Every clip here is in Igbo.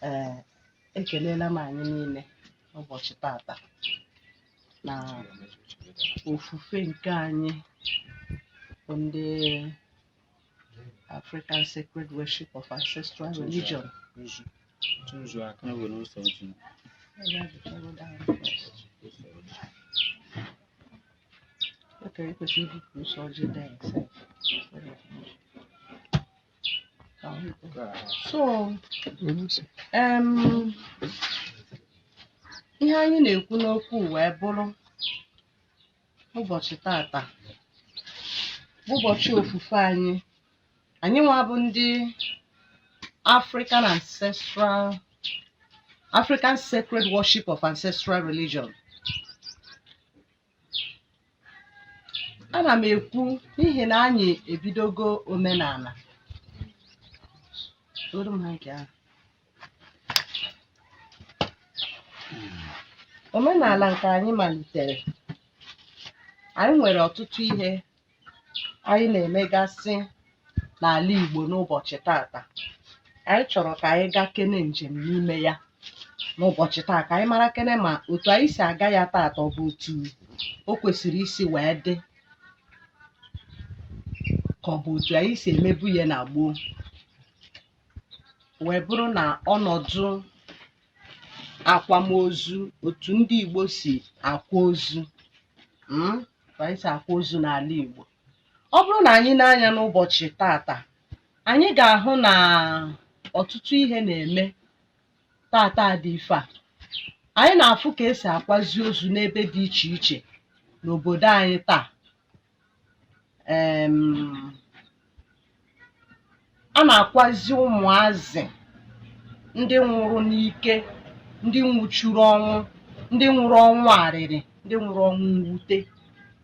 ee ekelela m anyị niile n'ụbọchị tata na ofufe nke anyị bụ ndị African sacred worship of ancestral religion. Okay, because you did do soldier there, so. So, um, ihe anyị na-ekwu n'okwu wee bụrụ ụbọchị tata bụ ụbọchị ofufe anyị anyị nwa bụ ndị African ancestral African sacred worship of ancestral religion ana m ekwu n'ihi na anyị ebidogo omenala dum aka. omenala nke anyị malitere anyị nwere ọtụtụ ihe anyị na-emegasị n'ala Igbo n'ụbọchị tata anyị chọrọ ka anyị gaakene njem n'ime ya n'ụbọchị taa ka anyị marakene ma otu anyị si aga ya tata ọ bụ otu o kwesịrị isi wee dị ka ọ bụ otu anyị si emebu ya na gboo wee bụrụ na ọnọdụ akwamozu otu ndị Igbo si akwa ozu mm, ka anyị si akwa ozu n'ala Igbo ọ bụrụ na anyị nee anya n'ụbọchị tata anyị ga-ahụ na ọtụtụ ihe na-eme tata dị ife a anyị na-afụ ka e si akwazi ozu n'ebe dị iche iche n'obodo anyị taa em, a na-akwazi ụmụazị ndị nwụrụ n'ike ndị nwụchuru ọnwụ ndị nwụrụ ọnwụ arịrị ndị nwụrụ ọnwụ mwute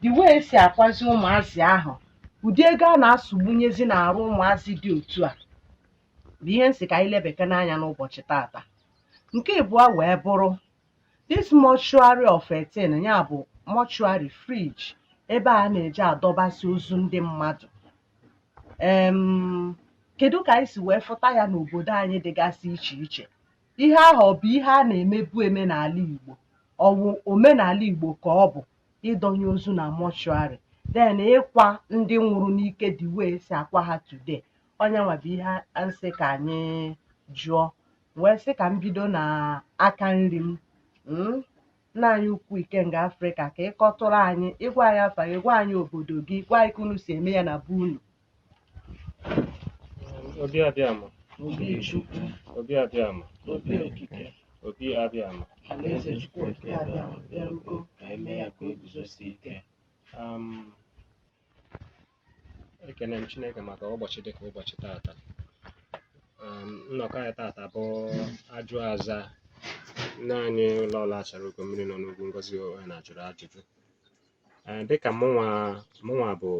the way e si akwazi ụmụazị ahụ ụdị ego a na-asụgbunyezi n'arụ ụmụazị dị otu a bụ ihe m sị ka anyị lebekene anya n'ụbọchị tata nke abụọ wee bụrụ This mortuary of a thing ya bụ mortuary fridge ebe a na-eji adọbasị ozu ndị mmadụ em kedu ka anyị si wee fụta ya n'obodo anyị dịgasị iche iche ihe ahụ ọ bụ ihe a na-emebu eme n'ala Igbo ọ bụ omenala Igbo ka ọ bụ ịdọnye ozu na mortuary then ịkwa ndị nwụrụ n'ike the way e si akwa ha today ọ nya nwa bụ ihe m sị ka anyị jụọ wee sị ka m bido na aka nri m mm, nna anyị ukwu ikenga afrịka ka ịkọtụrụ anyị ịgwa anyị afa gị gwa anyị obodo gị gwa anyị ka unu si eme ya na be unu Obi Abịama, obi chukwu Obi Abịama, obi okike Obi Abịama. alaeze chukwu okike Abịama bịarugo ka eme ya ka o guzosie ike Um, ekene m Chineke maka ụbọchị dịka ụbọchị tata um, nnọkọ anyị tata bụ ajụ aza nne anyị lọọlọ achara ugo mmiri nọ n'ugwu ngozi onye na-ajụrụ ajụjụ um, dịka mụnwa mụnwa bụ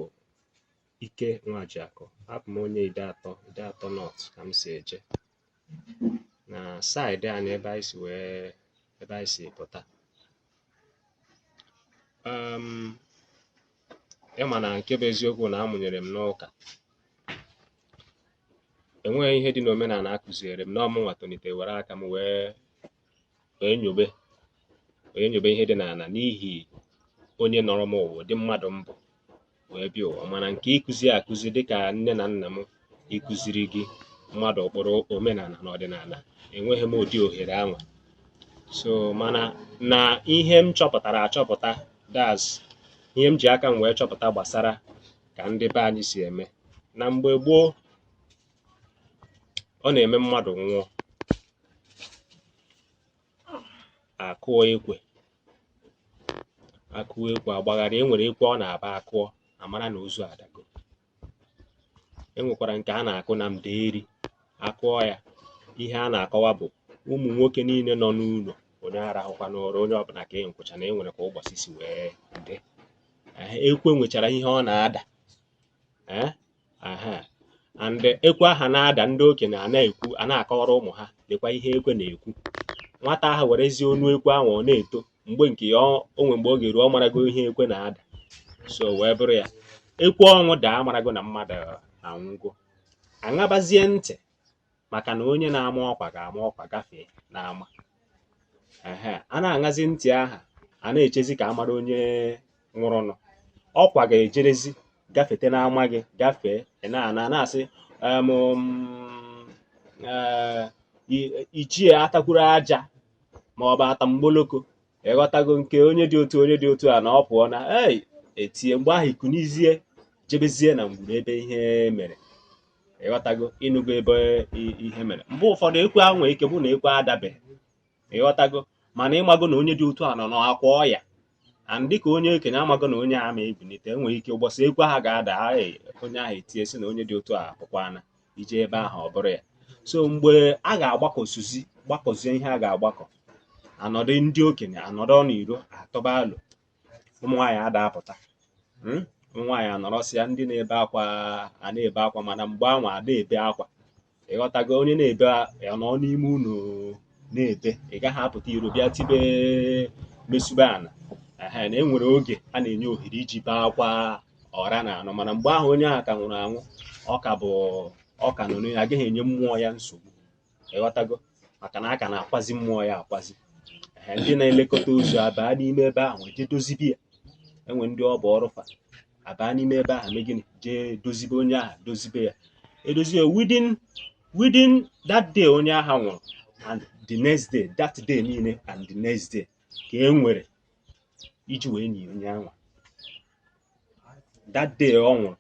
ike nwajiakụ abụ m onye Ideatọ Ideatọ North ka m si eje na side anyị ebe anyị si wee ebe anyị si pụta um, ị ma na nke bụ eziokwu na a mụnyere m n'ụka enweghị ihe dị n'omenala a kụziere m na ọ mụnwa tonite were aka m wee wee nyobe nyobe ihe dị n'ala n'ihi onye nọrọ m ụwa ụdị mmadụ m bụ wee bịa ụwa mana nke ịkụzi akụzi dịka nne na nna m ịkụziri gị mmadụ ụkpụrụ omenala na ọdịnala enweghị m ụdị ohere ahụ so mana na ihe m chọpụtara achọpụta that's ihe m ji aka m wee chọpụta gbasara ka ndị be anyị si eme na mgbe gboo ọ na-eme mmadụ nwụọ a kụọ ekwe a kụọ ekwe agbagharị e nwere ekwe ọ na-abụ a kụọ a mara na ozu adago e nwekwara nke a na-akụ na mdeeri a kụọ ya ihe a na-akọwa bụ ụmụ nwoke niile nọ n'ụlọ onye arahụkwana ụra onye ọbụla kee nkwụcha na e nwere ka ụbọchị si wee dị ekwe nwechara ihe ọ na-ada and ekwe aha na-ada ndị okenye a na-ekwu a na-akọwara ụmụ ha lekwa ihe ekwe na-ekwu nwata ahụ werezie onu ekwe ahụ ọ na-eto mgbe nke ya onwe mgbe ọ ga-eru ọ marago ihe ekwe na-ada so wee bụrụ ya ekwe ọnwụ daa a marago na mmadụ anwụgo a ṅabazie ntị maka na onye na-ama ọkwa ga-ama ọkwa gafee n'ama ehe a na-aṅazi ntị aha a na-echezi ka a mara onye nwụrụnụ ọkwa ga-ejerezi gafete n'ama gị gafee ị na-anụ a na-asị em, mm, eh, i- ichie atakwuru aja ma ọ bụ atamgboloko ị ghọtago nke onye dị otu onye dị otu a na ọ pụọ na ei etie mgbe ahụ i kunizie jebezie na ngwuru ebe ihe mere ịghọtago ịnụgo ebe ihe mere mgbe ụfọdụ ekwe ahụ nwere ike bụ na ekwe adabeghị ịghọtago mana ịmago na onye dị otu a nọ n'akwa ọya and dịka onye okenye amago na onye a ama ebilite enwere ike ụbọchị ekwe ha ga-ada onye ahụ etie sị na onye dị otu a pụkwana ije ebe ahụ ọ bụrụ ya so mgbe a ga-agbakọsuzi gbakọzie ihe a ga-agbakọ anọdụ ndị okenye anọdụ n'iro atụba alo ụmụ nwaanyị ada apụta hmm? ụmụ nwaanyị anọrọsịa ndị na-ebe akwa a na-ebe akwa mana mgbe anwa ada ebe akwa ịghọtago onye na-ebe ya nọ n'ime ụnọ na-ebe ị gaghị apụta iro bịa tibe mesube ana na enwere oge a na-enye ohere iji bee akwa ọra na anọ mana mgbe ahụ onye ahụ ka nwụrụ anwụ ọ ka bụ ọ ka nọ n'onye a gaghị enye mmụọ ya nsogbu ịghọtago maka na a ka na-akwazi mmụọ ya akwazi Ehe, ndị na-elekọta ozu abaa n'ime ebe ahụ jee dozibe ya e nwere ndị ọ bụ ọrụ fa abaa n'ime ebe ahụ mee gịnị jee dozibe onye ahụ dozibe ya edozi ya within within that day onye ahụ nwụrụ and the next day that day niile and the next day ka e nwere iji wee nie onye anwa that day ọ nwụrụ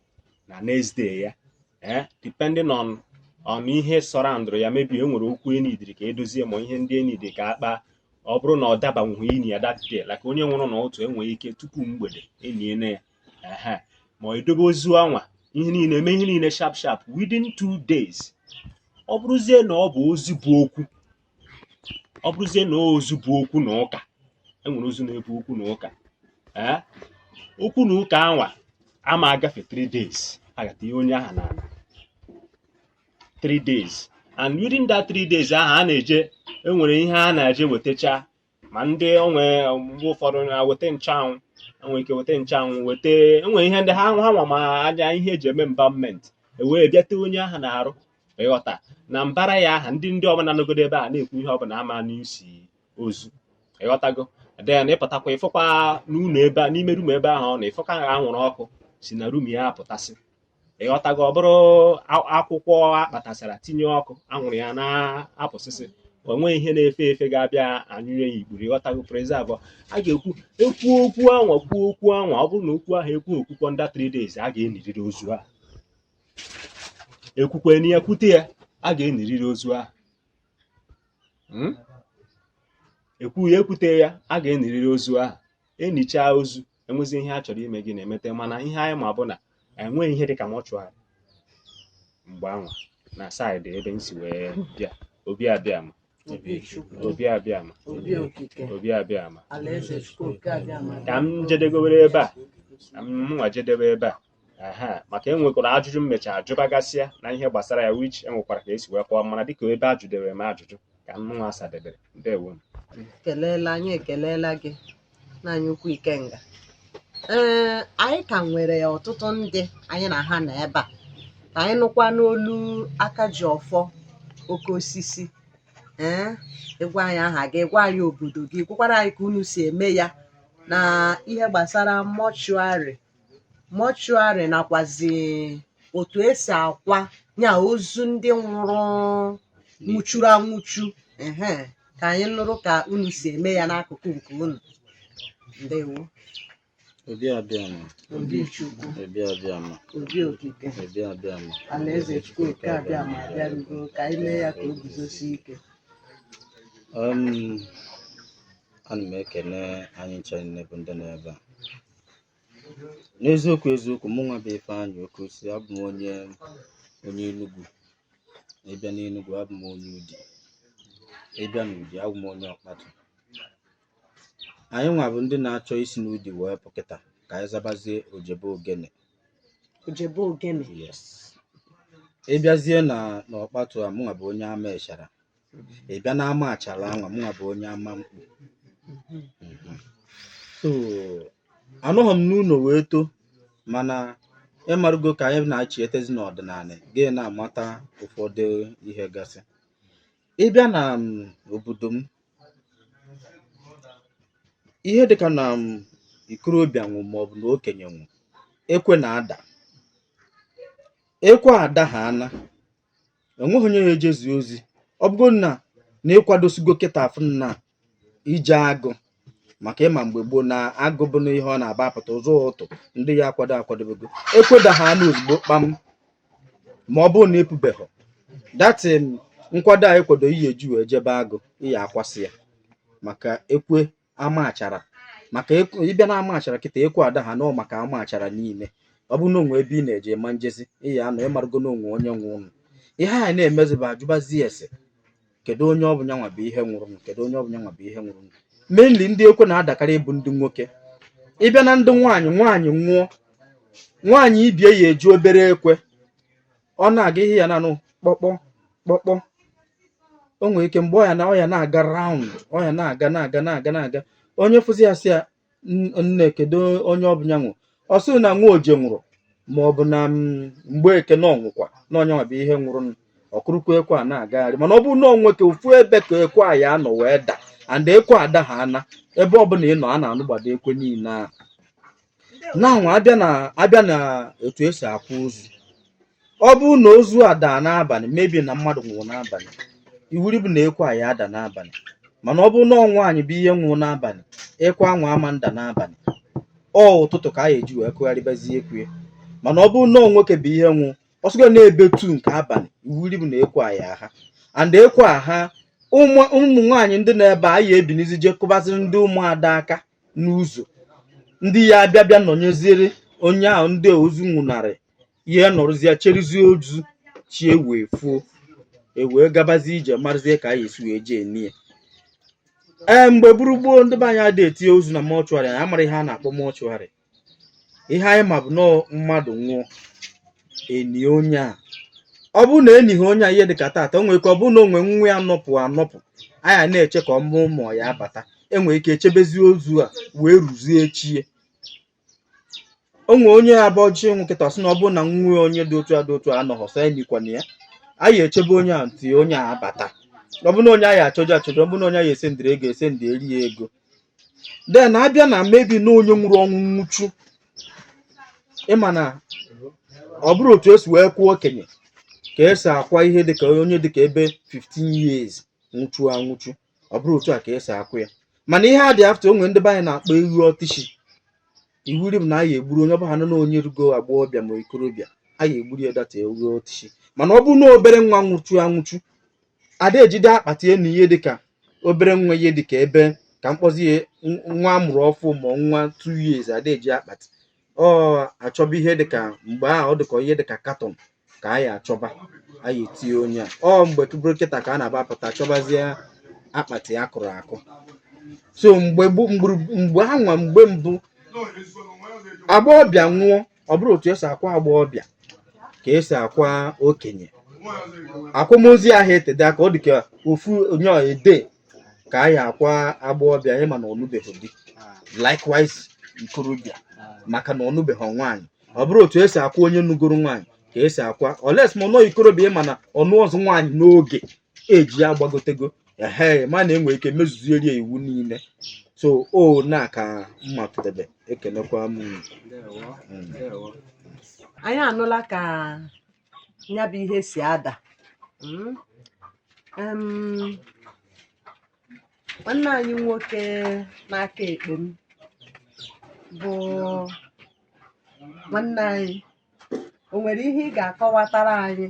na next day ya eh, depending on on ihe surroundụrụ ya maybe e nwere okwu e needịrị ka e dozie ma ihe ndị e needịrị ka a kpa ọ bụrụ na ọ dabanwughị ini ya that day like onye nwụrụ n'ụtụtụ e nwere ike tupu mgbede eniene ya ma edobe ozu anwa ihe niile eme ihe niile sharp sharp within two days ọ bụrụzie na ọ bụ ozu bu okwu ọ bụrụzie na ozu bu okwu na ụka enwere ozu na-ebu okwu na ụka ee okwu na ụka anwa ama agafe 3 days a ga-etinye onye aha n'ana 3 days and within that 3 days ahụ a na-eje enwere ihe a na-eje wetacha ma ndị o nwe mgbe ụfọdụ na-eweta nchanwụ enwere ike weta nchanwụ weta enwere ihe ndị ha ha nwa ma anya ihe eji eme embalmment ewee bịa tee onye aha n'arụ ịghọta na mbara ya aha ndị ndị ụmụnna nọgodo ebe a na-ekwu ihe ọbụla ama anụ isi ozu ịghọtago then ịpụtakwa ịfụkwa n'ụnọ ebe a n'ime room ebe ahụ ọ nọ ịfụkwa anwụrụ ọkụ si na room ya apụtasị ịghọtago ọ bụrụ akwụkwọ akpatasara tinye ọkụ anwụrụ ya na-apụsịsị o nweghị ihe na-efe efe ga-abịa anyụnye ya ikpuru ịghọtago preserve a ga-ekwu ekwu okwu anwa kwuo okwu anwa ọ bụrụ na okwu ahụ ekwe okwukwu under 3 days a ga-eniriri ozu a ekwukwene ya kwute ya a ga-eniriri ozu a hmm? ekwu ya ekwute ya a ga-eniriri ozu ahụ enichaa ozu enwezi ihe a chọrọ ime gị na-emete mana ihe anyị ma bụ na enweghị ihe dịka mortuary mgbe anwa na side ebe m si wee bịa obi abịama obi abịama obi okike obi abịama alaeze Chukwu oke abịama ka m jedegowere ebe a ka m mụnwa jedebe ebe a maka e nwekwara ajụjụ m mecha ajụbagasịa na ihe gbasara ya which enwekwara ka esi wee kọọ mana dịka ebe a jụdere m ajụjụ ka mụnwa asadebere ndewo ekelela anyị ekelela gị nna anyị ukwu ikenga ee anyị ka nwere ọtụtụ ndị anyị na ha nọ ebe a ka anyị nụkwa n'olu aka ji ọfọ oke osisi ee ịgwa anyị aha gị gwa anyị obodo gị gwakwara anyị ka unu si eme ya na ihe gbasara mortuary mortuary nakwazi otu esi akwa ya ozu ndị nwụrụ nwụchuru anwụchu ehe ka anyị nụrụ ka unu si eme ya n'akụkụ nke unu ndewo Obi abịama. obi chukwu Obi abịama. obi okike Obi abịama. alaeze chukwu nke abịama abịarugo ka anyị mee ya ka o guzosie ike Um, ana m ekene anyị ncha niile bụ ndị nọ ebe a n'eziokwu eziokwu mụ nwa bụ Ifeanyị Okosi abụ m onye onye Enugu ịbịa n'Enugu abụ m onye Udi ịbịa n'Udi abụ m onye Ọkpatụ anyị nwa bụ ndị na-achọ isi n'Udi wee pụkịta ka anyị zabazie Ojebe Ogene Ojebe Ogene yes ịbịazie na n'Ọkpatụ a mụ nwa bụ onye ama achara ị bịa na ama achara anwa mụnwa bụ onye ama mkpu Mhm. so anọghị m n'ụlọ wee too mana ịmarụgo ka anyị na-achị etezi n'ọdịnala gị na-amata ụfọdụ ihe gasị ịbịa na m, obodo m ihe dịka na m, ikorobịa nwụ maọbụ na okenye nwụ ekwe na-ada ekwe ada ha ana enweghị onye ya ejezi ozi ọ bụgo na na ịkwadosigo kịta afụ na ije agụ maka ịma mgbe gboo na agụ bụ na ihe ọ na-aba apụta ụzọ ụtụ ndị ya akwado akwadobego ekwe da ha ana ozugbo kpam ma ọ bụrụ na ị pụbeghị that nkwado a ị kwado ị ya eji wee jebe agụ ị ya akwasị ya maka ekwe amachara maka ịbịa na amachara kịta ekwe ada ha nọọ maka amachara niile ọ bụrụ na o nwe ebe ị na-eje ma njezi ị ya anọ ịmarụgo na o nwe onye nwụrụ nụ ihe a na-emezi bụ ajụbazi ese kedu onye ọ bụ nyanwa bụ ihe nwụrụ nụ kedu onye ọ bụ nyanwa bụ ihe nwụrụ nụ mainly ndị ekwe na-adakarị bụ ndị nwoke ịbịa na ndị nwaanyị nwaanyị nwụọ nwaanyị ibe ya eji obere ekwe ọ na-aga ihe ị ya na-anụ kpọkpọ kpọkpọ o nwere ike mgbe ọ ya na ọ ya na-aga round ọ ya na-aga na-aga na-aga na-aga onye fụzi ya sị ya "N- nne kedu onye ọ bụ ya nwụrụ ọ sị na nwa oje nwụrụ ma ọ bụ na mm, Mgbeke na ọnwụkwa na ọ nyanwa bụ ihe nwụrụ ọ kụrụkwa ekwe a na-agagharị mana ọ bụrụ na ọ nwoke ofu ebe ka ekwe a ya anọ wee da and ekwe ada ha ana ebe ọbụla ị nọ a na-anụgbado ekwe niile ahụ na anwa abịa na etu esi akwa ozu ọ bụrụ na ozu a daa n'abalị maybe na mmadụ nwụrụ n'abalị iwuri bụ na ekwe a ya-ada n'abalị mana ọ bụrụ na ọ nwaanyị bụ ihe nwụrụ n'abalị ekwe anwa ama nda n'abalị ọ ụtụtụ ka a ya-eji wee kụgharịbazie ekwe mana ọ bụrụ na nwoke bụ ihe nwụ ọsụgo n'ebe two nke abalị iwuri bụ na ekwe a ya-aha and ekwe aha ụmụ nwaanyị ndị n'ebe a ya-ebinizi je kụbaziri ndị ụmụada aka n'ụzọ ndị ya abịa bịa nọnyeziere onye ahụ ndị ozu nwụnarị ihe nọrọzie cherizie ozu chi ewee fuo ewee gabazie ije marụzie ka a ya-esi wee jee nie ee mgbe buru gboo ndị be anyị adị etinye ozu na mortuary anyị amara ihe a na-akpọ mortuary ihe anyị ma bụ na mmadụ nwụọ enie onye a ọ bụrụ na enighị onye a ihe dịka taata o nwere ike ọ bụrụ na o nwe nwa ya nọpụ anọpụ a ya na-eche ka ọmụ ụmụ ya abata enwere ike echebezie ozu a wee ruzie echi o nwe onye abọchi nwụ kịta sị na ọ bụrụ na nwa onye dị otu a dị otu a anọghọ nso enikwana ya a ya-echebe onye a until onye a abata ọ bụrụ na onye a ya-achọje achọje ọ bụrụ na onye a ya-esendịrị ego esendịrị ya ego then abịa na maybe na onye nwụrụ ọnwụ nwụchu ịma na ọ bụrọ otu esi wee kwaa okenye ka esi akwa ihe dịka onye dịka ebe 15 years nwụchu anwụchu ọ bụrọ otu a ka esi akwa ya mana ihe a dị after o nwe ndị be anyị na-akpọ ewu ọtịchi iwuri bụ na a ya-egburu onye ọbụla nọ na onye rugo agbọghọbịa ma ikorobịa a ya-egburu ya that ewu ọtịchi mana ọ bụrụ na obere nwa nwụchu anwụchu ada ejide akpati eni ihe dịka obere nwa ihe dịka ebe ka m kpọzi ya n- nwa amụrụ ọfụ ma ọ nwa two years ada eji akpati ọ achọba ihe dịka mgbe ahụ ọ dịka ihe dịka katọn ka a ya-achọba a ya-etinye onye a ọ mgbe tụbụrụ kịta ka a na-aba apụta achọbazie akpati akụrụ akụ so mgbe gbu- mgburu- mgbe anwa mgbe mbụ agbọghọbịa nwụọ ọ bụrọ otu esi akwa agbọghọbịa ka esi akwa okenye akwamozu ahụ etede aka ọ dị ka ofu only a day ka a ya-akwa agbọghọbịa ịma na ọ nụbeghị di likewise ikorobịa maka na ọ nụbeghị nwaanyị ọ bụrọ otu esi akwa onye nụgoro nwaanyị ka esi akwa unless ma nọ ikorobịa ịma na ọnụ ọzọ nwaanyị n'oge age ya agbagotego ehe mana enwere ike mezuzieri ya iwu niile so o na ka m matụdebe ekenekwa m unu. Ndewo, Mm. ndewo. anyị anụla ka ya bụ ihe si ada Mm. Em, nwanne anyị nwoke n'aka ekpe m bụ nwanne anyị o nwere ihe ị ga-akọwatara anyị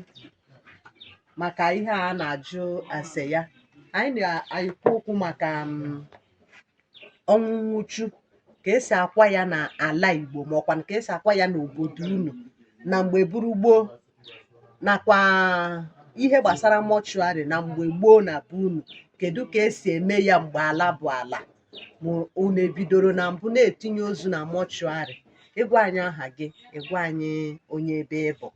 maka ihe a na-ajụ ase ya anyị na-ekwu okwu maka mm, ọnwụ nwụchu ka esi akwa ya na ala Igbo ma ọkwa ka esi akwa ya n'obodo unu na mgbe buru gboo nakwa ihe gbasara mortuary na mgbe gboo na be unu kedu ka esi eme ya mgbe ala bụ ala ma unu ebidoro na mbụ na-etinye ozu na mortuary ị gwa anyị aha gị ị gwa anyị onye ebe ị bụ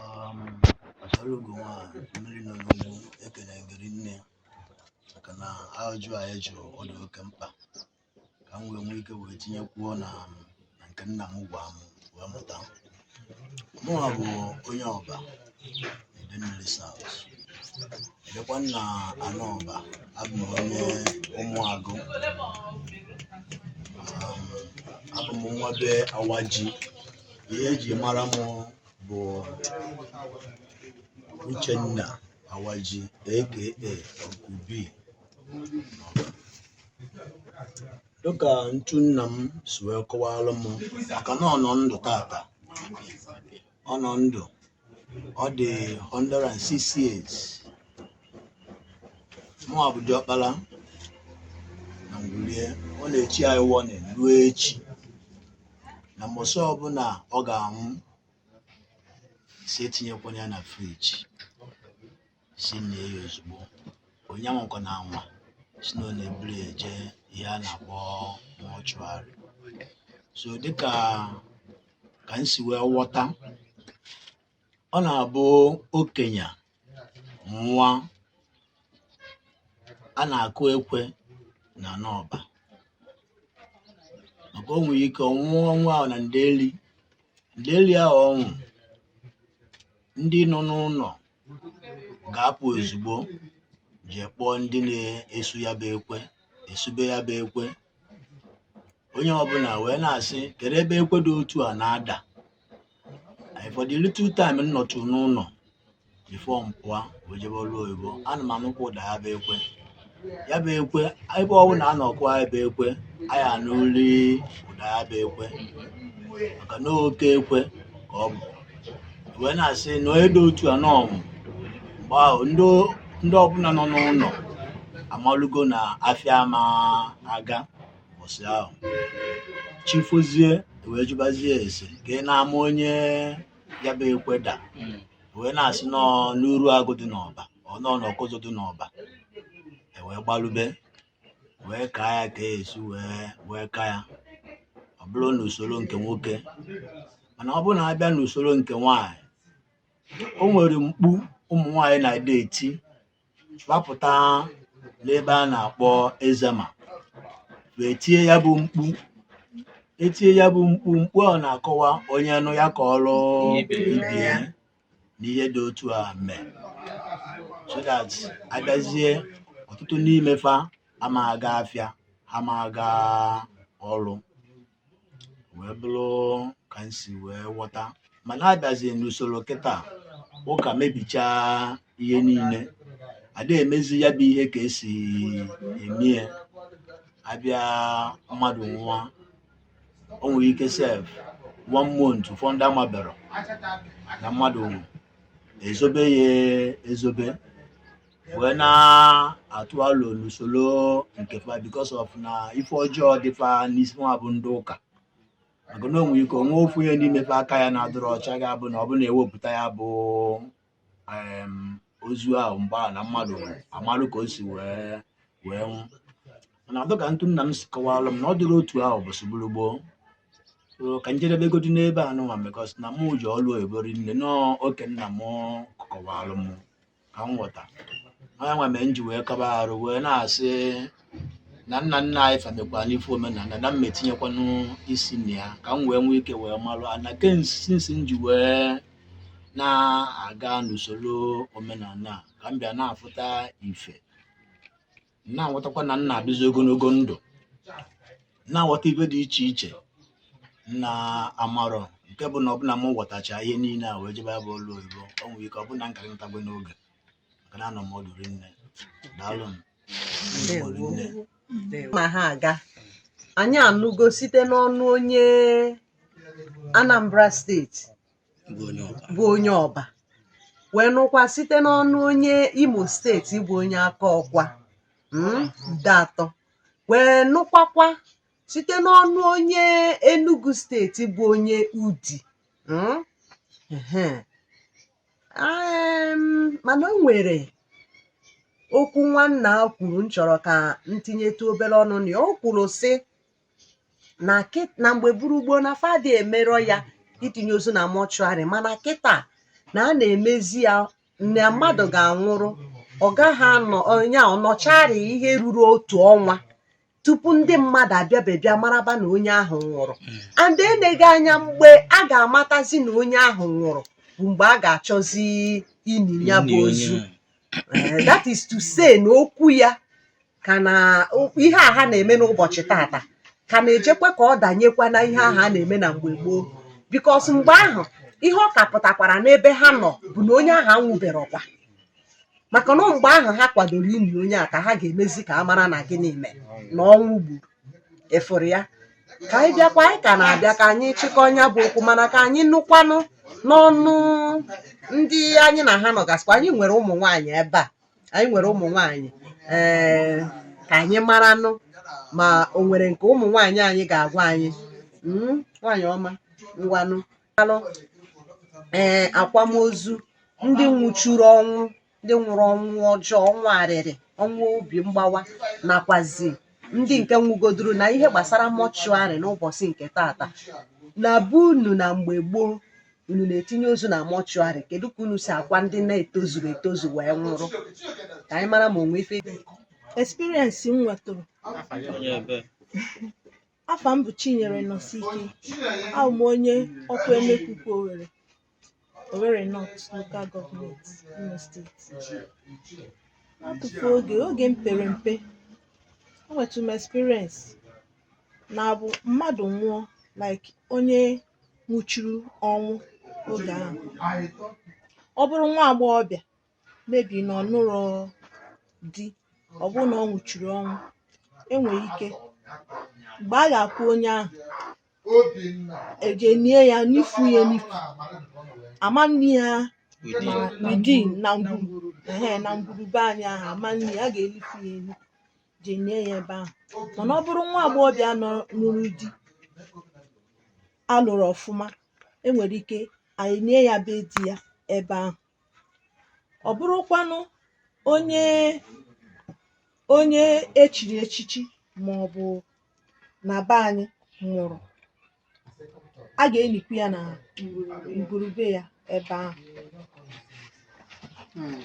Um, achara ugo nwa mmiri nọ n'ugwu ekene m gị rinne maka na ajụ a ị jụrụ ọ dị oke mkpa ka m wee nwee ike wee tinyekwuo na um, na nke nna m gwa m wee mụta mụnwa bụ onye Ọba Idemmili South ebekwa m na-anọ Ọba abụ m onye Ụmụagụ Um, abụ m nwa be Awaji ihe eji mara m bụ Uchenna Awaji aka Ọkụbi dịka ntu nna m si wee kọwalụ m maka na ọ nọ ndụ taata ọ nọ ndụ ọ dị 106 years mụa bụ diọkpala na ngwulu ye ọ na-echi anyị warning ruo echi na mbọsị ọbụla ọ ga-anwụ sị etinyekwana ya na fridge sị nie ya ozugbo onye anwakwana anwa sị na ọ na-eburu ya eje ihe a na-akpọ mortuary so dịka ka m si wee ghọta ọ na-abụ okenye nwụa a na-akụ ekwe na n'Ọba maka o nwere ike ọ nwụọ ọnwụ ahụ na ndeli ndeli ahụ ọ nwụ ndị nọ n'ụlọ ga-apụ ozugbo jee kpọọ ndị na-esu ya bụ ekwe esube ya bụ ekwe onye ọbụla wee na-asị kedu ebe ekwe dị otu a na-ada for the little time m nọtụ n'ụlọ before m pụọ wee jebe ọrụ oyibo ana m anụkwa ụda ya bụ ekwe ya bụ ekwe ebe ọbụna a nọ kụa ya bụ ekwe a ya-anụlị ụda ya bụ ekwe maka na oke ekwe ka ọ bụ e wee na-asị na onye dị otu a na ọ nwụ mgbe ahụ ndị ndị ọbụla nọ n'ụlọ amalugo na afịa ama aga ụbọchị ahụ chi fozie e wee jụbazie ese ka ị na-ama onye ya bụ ekwe da wee na-asị nọ n'Uruagụ dị n'Ọba ọ nọ n'Ọkụzụ dị n'Ọba e wee gbalube wee kaa ya ka e si wee kaa ya ọ bụrụ n'usoro nke nwoke mana ọ bụrụ na a bịa n'usoro nke nwaanyị o nwere mkpu ụmụ nwaanyị na-adị eti gbapụta n'ebe a na-akpọ Ezema wee tie ya bụ mkpu e tie ya bụ mkpu mkpu ahụ na-akọwa onye nụ ya kọọrụ ibe ya na ihe dị otu a mee so that a bịazie ọtụtụ n'ime fa ama aga afịa ama aga ọrụ wee bụrụ ka m si wee ghọta mana a bịazie n'usoro kịta ụka mebichaa ihe niile ada emezi ya bụ ihe ka e si eme ya a bịa mmadụ nwụọ o nwere ike sef one month ụfọdụ ndị amaberọ na mmadụ nwụrụ e zobe ya ezobe wee na-atụ alo n'usoro nke fa because of na ife ọjọọ dị fa n'isi nwa bụ ndị ụka maka na o nwe ike e nwee ofu onye n'ime fa aka ya na-adịrọ ọcha ga-abụ na ọ bụ na-ewepụta ya bụ em, ozu ahụ mgbe ahụ na mmadụ amalụ ka o si wee nwụ mana ọ bụ ka ntụ nna m si kọwalụ m na ọ dịrị otu ahụ bụ sụgburu gboo So, ka m jedebegodi n'ebe a nụnwa because na mụ je ọlụ oyibo rinne na ọ nke nna m kọwalụ m ka m ghọta ọ yanwa mere m ji wee kaba arụ wee na-asị na nna nna anyị fa mekwa n'ife omenala na m etinyekwanụ isi na ya ka m wee nwee ike wee malụ anya kensinsi m ji wee na-aga n'usoro omenala a, ka m bịa na-afụta ife na-aghọtakwa na m na-adịzi ogologo ndụ na-aghọta ife dị iche iche na amarọ nke bụ na ọ bụ na m ghọtacha ihe niile a wee jebe ya bụ ọlụ oyibo o nwere ike ọ bụ na m kara natago n'oge maka na anọ m ọdụ rinne daalụ m Ndewo. rinne ma ha aga anyị anụgo site n'ọnụ onye Anambra steeti bụ onye Ọba wee nụkwa site n'ọnụ onye Imo steeti bụ onye Akọkwa mm, Ideatọ wee nụkwakwa site n'ọnụ onye Enugu steeti bụ onye Udi mm, ehe. Em, mana o nwere okwu nwanna a kwuru m chọrọ ka m tinyetụ obere ọnụ na ya o kwuru sị na kịt na mgbe gboo gboo na fa dị emerọ ya itinye ozu na mọchụarị mana kịta na a na-emezi ya na mmadụ ga-anwụrụ ọ gaghị anọ onye a ọ nọcharị ihe ruru otu ọnwa tupu ndị mmadụ abịabe bịa maraba na onye ahụ nwụrụ and eneghị anya mgbe a ga-amatazi na onye ahụ nwụrụ bụ mgbe a ga-achọzi ini ya bụ ozu Eh, that is to say na okwu ya ka na ihe a ha na-eme n'ụbọchị tata ka na-ejekwa ka ọ danyekwa na ihe ahụ a na-eme na mgbe gboo because mgbe ahụ ihe ọ ka pụtakwara n'ebe ha nọ bụ na onye ahụ anwụberọkwa maka na mgbe ahụ ha kwadoro ini onye a ka ha ga-emezi ka a mara na gịnị mere na ọnwụ gburu ị fụrụ ya ka anyị bịakwa anyị ka na-abịa ka anyị chịkọọ nya bụ okwu mana ka anyị nụkwanụ n'ọnụ ndị anyị na ha nọgasịkwa anyị nwere ụmụ nwaanyị ebe a anyị nwere ụmụ nwaanyị ee ka anyị maranụ ma o nwere nke ụmụ nwaanyị anyị ga-agwa anyị Mm, nwaanyị ọma ngwanụ alụ ee akwamozu ndị nwụchuru ọnwụ ndị nwụrụ ọnwụ ọjọọ ọnwụ arịrị ọnwụ obi mgbawa nakwazi ndị nke nwụgoduru na ihe gbasara mọchụarị n'ụbọchị nke tata na be unu na mgbe gboo unu na-etinye ozu na mọchụarị kedu ka unu si akwa ndị na-etozurọ etozu wee nwụrụ ka anyị mara ma o nwe ife dị experience m nwetụrụ afa m bụ chinyere nọsike abụ m onye okwu emekuku owere owere north local government imo state n'akụkụ oge oge m pere mpe enwetụ m experience na-abụ mmadụ nwụọ like onye nwụchuru ọnwụ oge ahụ ọ bụrụ nwa agbọghọbịa maybe na ọ nụrọ di ọ bụrụ na ọ nwụchuru ọnwụ e nwere ike mgbe a ga-akwa onye ahụ eje nie ya nifu ya n'ifu ama nne ya na within na ngwuru ehe na ngwuru be anyị ahụ ama nne ya a ga-enifu ya elu je nie ya ebe ahụ mana ọ bụrụ nwa agbọghọbịa nọ- nụrụ di a lụrụ ọfụma e nwere ike anyị nie ya be di ya ebe ahụ ọ bụrụkwanụ onye onye e chiri echichi ma ọ bụ na be anyị nwụrụ a ga-enikwu ya na ngwuru be ya ebe ahụ Mm.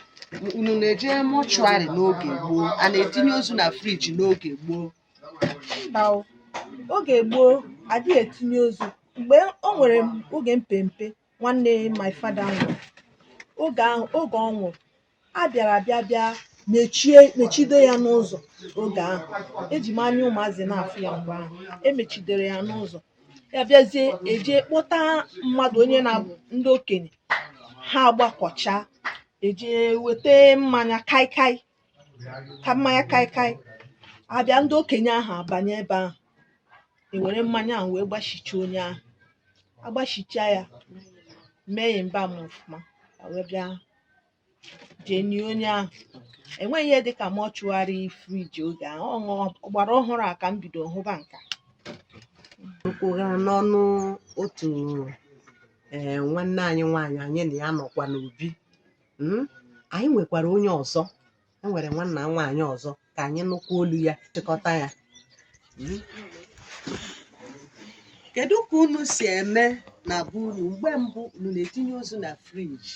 unu na-eje mọchụarị n'oge gboo a na-etinye ozu na friji n'oge gboo mba o. oge gboo adịghị etinye ozu mgbe o nwere m- oge m pere mpe nwanne my father nwụrụ oge ahụ oge ọ nwụrụ a bịara bịa bịa mechie mechide ya n'ụzọ oge ahụ eji m anya ụmụazị na-afụ ya mgbe ahụ emechidere ya n'ụzọ ya bịazie eje kpọta mmadụ onye na-abụ ndị okenye ha agbakọcha eje weta mmanya kaikai ka mmanya kaikai abịa ndị okenye ahụ abanye ebe ahụ ewere mmanya ahụ wee gbasịcha onye ahụ agbasịcha ya mee ya embalm ọfụma ya wee bịa jee nie onye ahụ enweghị ihe dịka mortuary friji oge ahụ ọ bụ ọgbara ọhụrụ a ka m bido hụba nka ka ọ ha m n'ọnụ otu ee nwanne anyị nwaanyị anyị na ya nọkwa n'obi Mm, anyị nwekwara onye ọzọ e nwere nwanna nwaanyị ọzọ ka anyị nụkwa olu ya chịkọta ya hmm? kedu ka unu si eme na be unu mgbe mbụ unu na-etinye ozu na friji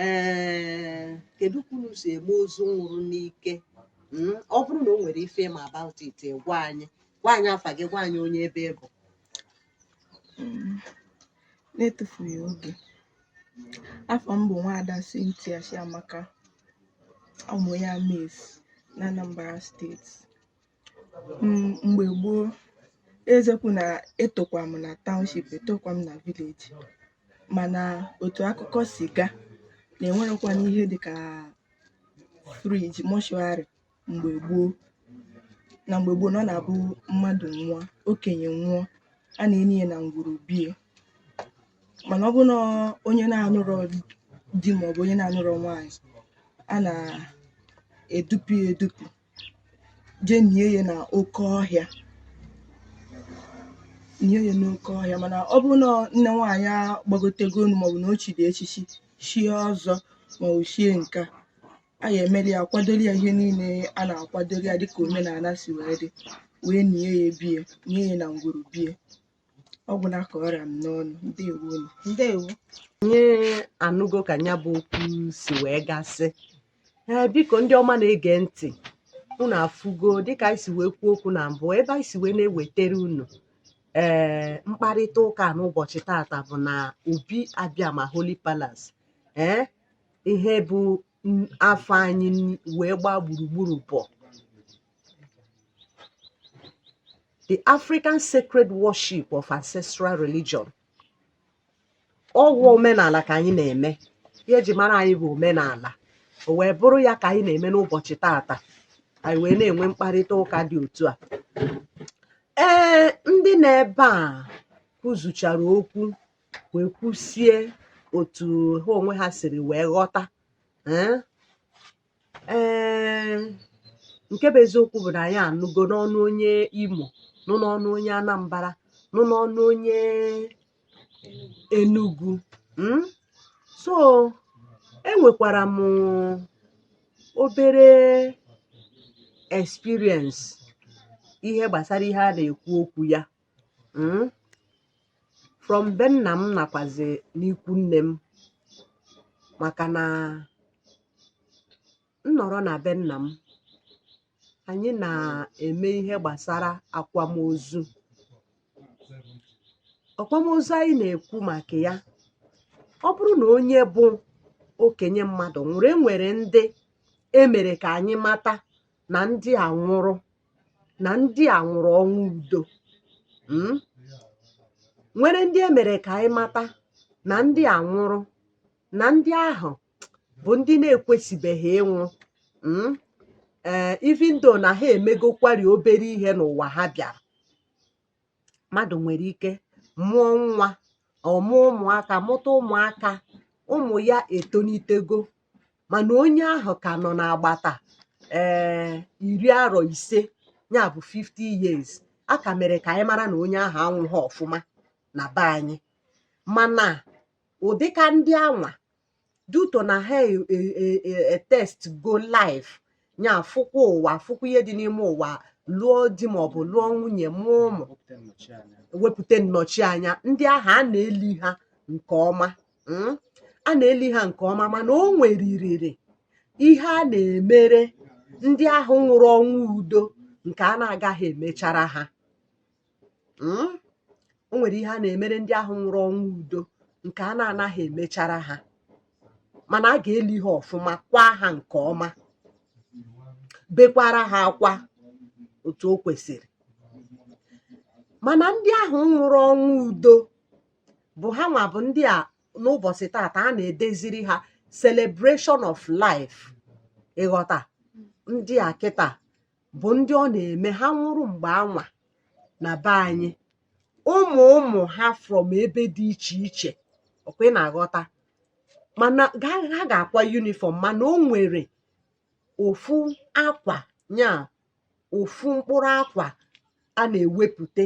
ee kedu ka unu si eme ozu nwụrụ n'ike hmm? ọ bụrụ na o nwere ife ị ma about it gwa anyị gwa anyị afa gị gwa anyị onye ebe ị bụ n'etufughị oge afa m bụ nwaada Cynthia Chiamaka abụ m onye Amesi na Anambra steeti mgbe gboo eziokwu na etokwa m na township etokwa m na village mana otu akụkọ si gaa na enwerọkwanụ ihe dịka friji mortuary mgbe gboo na mgbe gboo na ọ na-abụ mmadụ nwụọ okenye nwụọ a na-eni ya na ngwuru bie mana ọ bụrụ na onye na-anụrọ di maọbụ onye na-anụrọ nwaanyị a na-edupu ya edupu jee nie ya na oke ọhịa nie ya n'oke ọhịa mana ọ bụrụ na nne nwaanyị agbagotego elu maọbụ na o chiri echichi chie ọzọ maọbụ chie nka a ga-emere ya kwadoro ya ihe niile a na-akwadoro ya dịka omenala si wee dị wee nie ya bie nie ya na ngwuru bie ọ gwụla ka ọ ra m n'ọnụ ndewo unu ndewo anyị anụgo ka ya bụ okwu si wee gasị ee biko ndị ọma na-ege ntị unu afụgo dịka anyị si wee kwuo okwu na mbụ ebe anyị si wee na-ewetara unu ee mkparịta ụka n'ụbọchị tata bụ na Obi Abịama holy palace ee ihe bụ afa anyị wee gbaa gburugburu bụ the African sacred worship of ancestral religion ọ kwa omenala ka anyị na-eme ihe eji mara anyị bụ omenala o wee bụrụ ya ka anyị na-eme n'ụbọchị tata anyị wee na-enwe mkparịta ụka dị otu a ee ndị nọ ebe a kwuzuchara okwu wee kwusie otu ha onwe ha siri wee ghọta ee eh, nke bụ eziokwu bụ na anyị anụgo n'ọnụ onye Imo nụ n'ọnụ onye Anambra nụ n'ọnụ onye Enugu hmm? so enwekwara m obere experience ihe gbasara ihe a na-ekwu okwu ya hmm? from be nna m nakwazi n'ikwu nne m maka na nnọrọ na be nna m anyị na-eme ihe gbasara akwamozu akwamozu anyị na-ekwu maka ya ọ bụrụ na onye bụ okenye mmadụ nwụrụ enwere ndị emere ka anyị mata na ndị a nwụrụ na ndị a nwụrụ ọnwụ udo mm? nwere ndị e mere ka anyị mata na ndị a nwụrụ na ndị ahụ bụ ndị na-ekwesịbeghị ịnwụ mm? ee even though na ha emegokwari obere ihe n'ụwa ha bịara mmadụ nwere ike mụọ nwa ọ mụọ ụmụaka mụta ụmụaka ụmụ ya etonitego mana onye ahụ ka nọ n'agbata ee eh, iri arọ ise ya bụ 50 years a ka mere ka anyị mara na onye ahụ anwụghị ọfụma na be anyị mana ụdịka ndị anwa due to na ha e, e, e, etastego life nya fụkwa ụwa fụkwa ihe dị n'ime ụwa lụọ di maọbụ lụọ nwunye mụọ ụmụ wepụta nnọchianya ndị ahụ a na-eli ha nke ọma hmm? a na-eli ha nke ọma mana o nweririri ihe a na-emere ndị ahụ nwụrụ ọnwụ udo nke a na-agaghị emechara ha hmm? o nwere ihe a na-emere ndị ahụ nwụrụ ọnwụ udo nke a na-anaghị emechara ha mana a ga-eli ha ọfụma kwa ha nke ọma bekwara ha akwa otu o kwesịrị mana ndị ahụ nwụrụ ọnwụ udo bụ ha nwa bụ ndị a n'ụbọsị tata a na-edeziri ha celebration of life ị ghọta ndị a kịta bụ ndị ọ na-eme ha nwụrụ mgbe anwa na be anyị ụmụ ụmụ ha from ebe dị iche iche ọkwa ị na-aghọta mana ha ga-akwa uniform mana o nwere ofu akwa nya ofu mkpụrụ akwa a na-ewepụta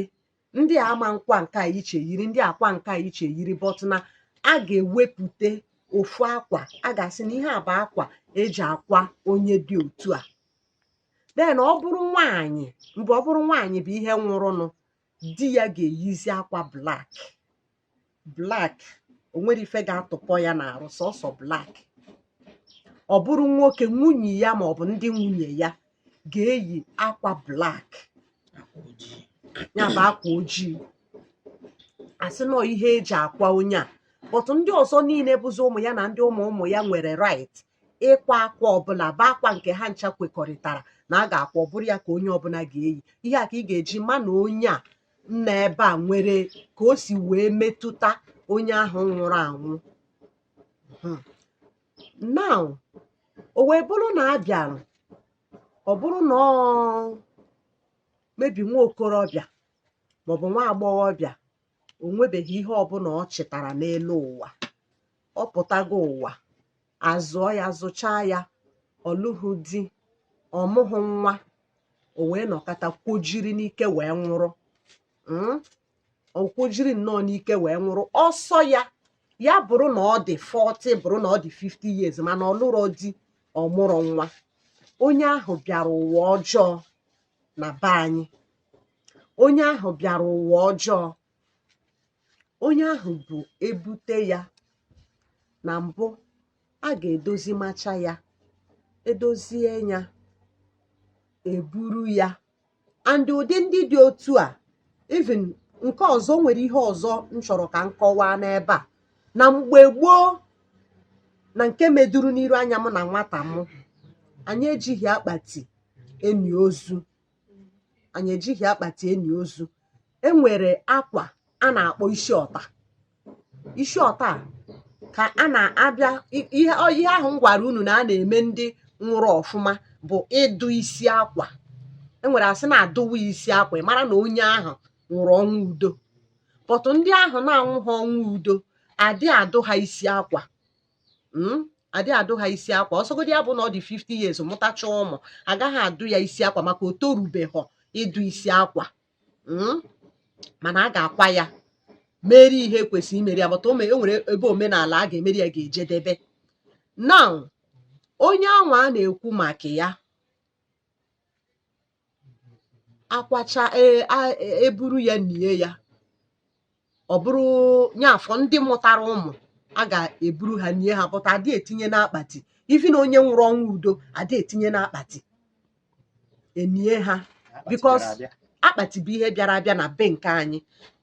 ndị a ama nkwa nke a iche yiri ndị akwa nke a iche yiri but na a ga-ewepụta ofu akwa a ga-asị na ihe a bụ akwa eji akwa onye dị otu a then ọ bụrụ nwaanyị mgbe ọ bụrụ nwaanyị bụ ihe nwụrụnụ di ya ga-eyizi akwa black black o nwere ife ga-atụpọ ya n'arụ sọsọ black ọ bụrụ nwoke nwunye ya ma ọ bụ ndị nwunye ya ga-eyi akwa black ya bụ akwa ojii asị nọ ihe eji akwa onye a but ndị ọzọ niile bụzi ụmụ ya na ndị ụmụ ụmụ ya nwere right ịkwa akwa ọbụla bụ akwa nke ha ncha kwekọrịtara na a ga-akwa ọ bụrụ ya ka onye ọbụla ga-eyi ihe a ka ị ga-eji ma na onye a nọ ebe a nwere ka o si wee metụta onye ahụ nwụrụ anwụ hmm. now o wee bụrụ na a bịara ọ bụrụ na ọ mebi nwa okorobịa maọbụ nwa agbọghọbịa o nwebeghị ihe ọbụla ọ chịtara n'elu ụwa ọ pụtago ụwa azụọ ya zụchaa ya ọ lụghị di ọ mụghị nwa o wee nọkata kwojiri n'ike wee nwụrụ hmm? o kwojiri nnọọ n'ike wee nwụrụ ọ sọ ya ya bụrụ na ọ dị 40 bụrụ na ọ dị 50 years mana ọ lụrọ di ọ mụrọ nwa onye ahụ bịara ụwa ọjọọ na be anyị onye ahụ bịara ụwa ọjọọ onye ahụ bụ ebute ya na mbụ a ga-edozi macha ya edozie ya eburu ya and ụdị ndị dị otu a even nke ọzọ nwere ihe ọzọ m chọrọ ka m kọwaa n'ebe a na mgbe gboo na nke meduru n'iru anya m na nwata m anyị ejighị akpati eni ozu anyị ejighị akpati eni ozu e nwere akwa a na-akpọ isi ọta isi ọta ka a na-abịa ihe ahụ m gwara unu na a na-eme ndị nwụrụ ọfụma bụ ịdụ isi akwa e nwere a sị na a dụwa isi akwa ị mara na onye ahụ nwụrụ ọnwụ udo but ndị ahụ na-anwụha ọnwụ udo adị adụ ha isi akwa hmm? adị adụ ha isi akwa ọ sọgodi ya bụ na ọ dị 50 years mụtacha ụmụ agaghị adụ ya isi akwa maka o torubeghọ ịdụ isi akwa hmm? mana a ga-akwa ya meri ihe kwesịrị imeri ya but e nwere ebe omenala a ga-emeri ya ga-ejedebe now onye anwa a na-ekwu maka ya akwacha e, e, eburu ya nie ya ọ bụrụ nye afọ ndị mụtara ụmụ a ga-eburu ha nie ha but adị etinye n'akpati ifi na onye nwụrụ ọnwụ udo adị etinye n'akpati enie ha because akpati bụ ihe bịara abịa na be nke anyị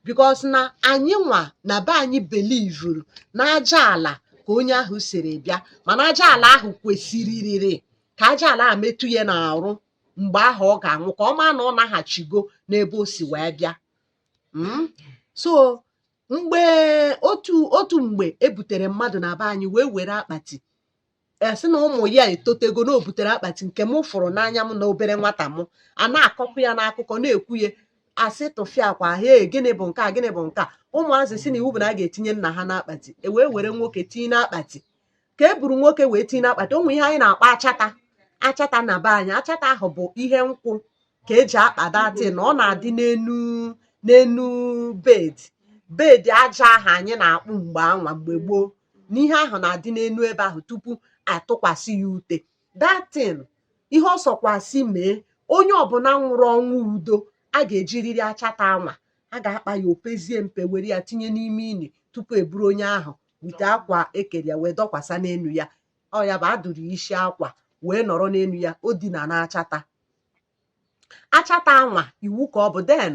because na anyị nwa na be anyị belivuru na aja ala ka onye ahụ siri bịa mana aja ala ahụ kwesịrịrị ka aja ala a metụ ya n'arụ mgbe ahụ ọ ga-anwụ ka ọ maa na ọ naghachigo n'ebe o si wee bịa hmm? so mgbe otu otu mgbe ebutere mmadụ na be anyị wee were akpati asị na ụmụ ya etotego na o butere akpati nke m fụrụ n'anya m na obere nwata m a na-akọkwu ya n'akụkọ na-ekwu ya asị tụfịakwa he gịnị bụ nke a gịnị bụ nke a ụmụazị sị na iwu bụ na a ga-etinye nna ha n'akpati e wee were nwoke tinye n'akpati ka e buru nwoke wee tinye n'akpati onwe ihe anyị na-akpọ achata achata na be anyị achata ahụ bụ ihe nkwụ ka eji akpa datin ọ na-adị n'enu n'enu bed bed aja ahụ anyị na-akpụ mgbe anwa mgbe gboo na ihe ahụ na-adị n'enu ebe ahụ tupu atụkwasị ya ute datin ihe ọ sọkwasị mee onye ọbụna nwụrụ ọnwụ udo a ga-ejiriri achata anwa a ga-akpa ya opezie mpe were ya tinye n'ime ini tupu eburu onye ahụ wite akwa ekere ya wee dọkwasa n'enu ya ọ ya bụ adụrụ isi akwa wee nọrọ n'enu ya o dina na achata achata anwa iwu ka ọ bụ den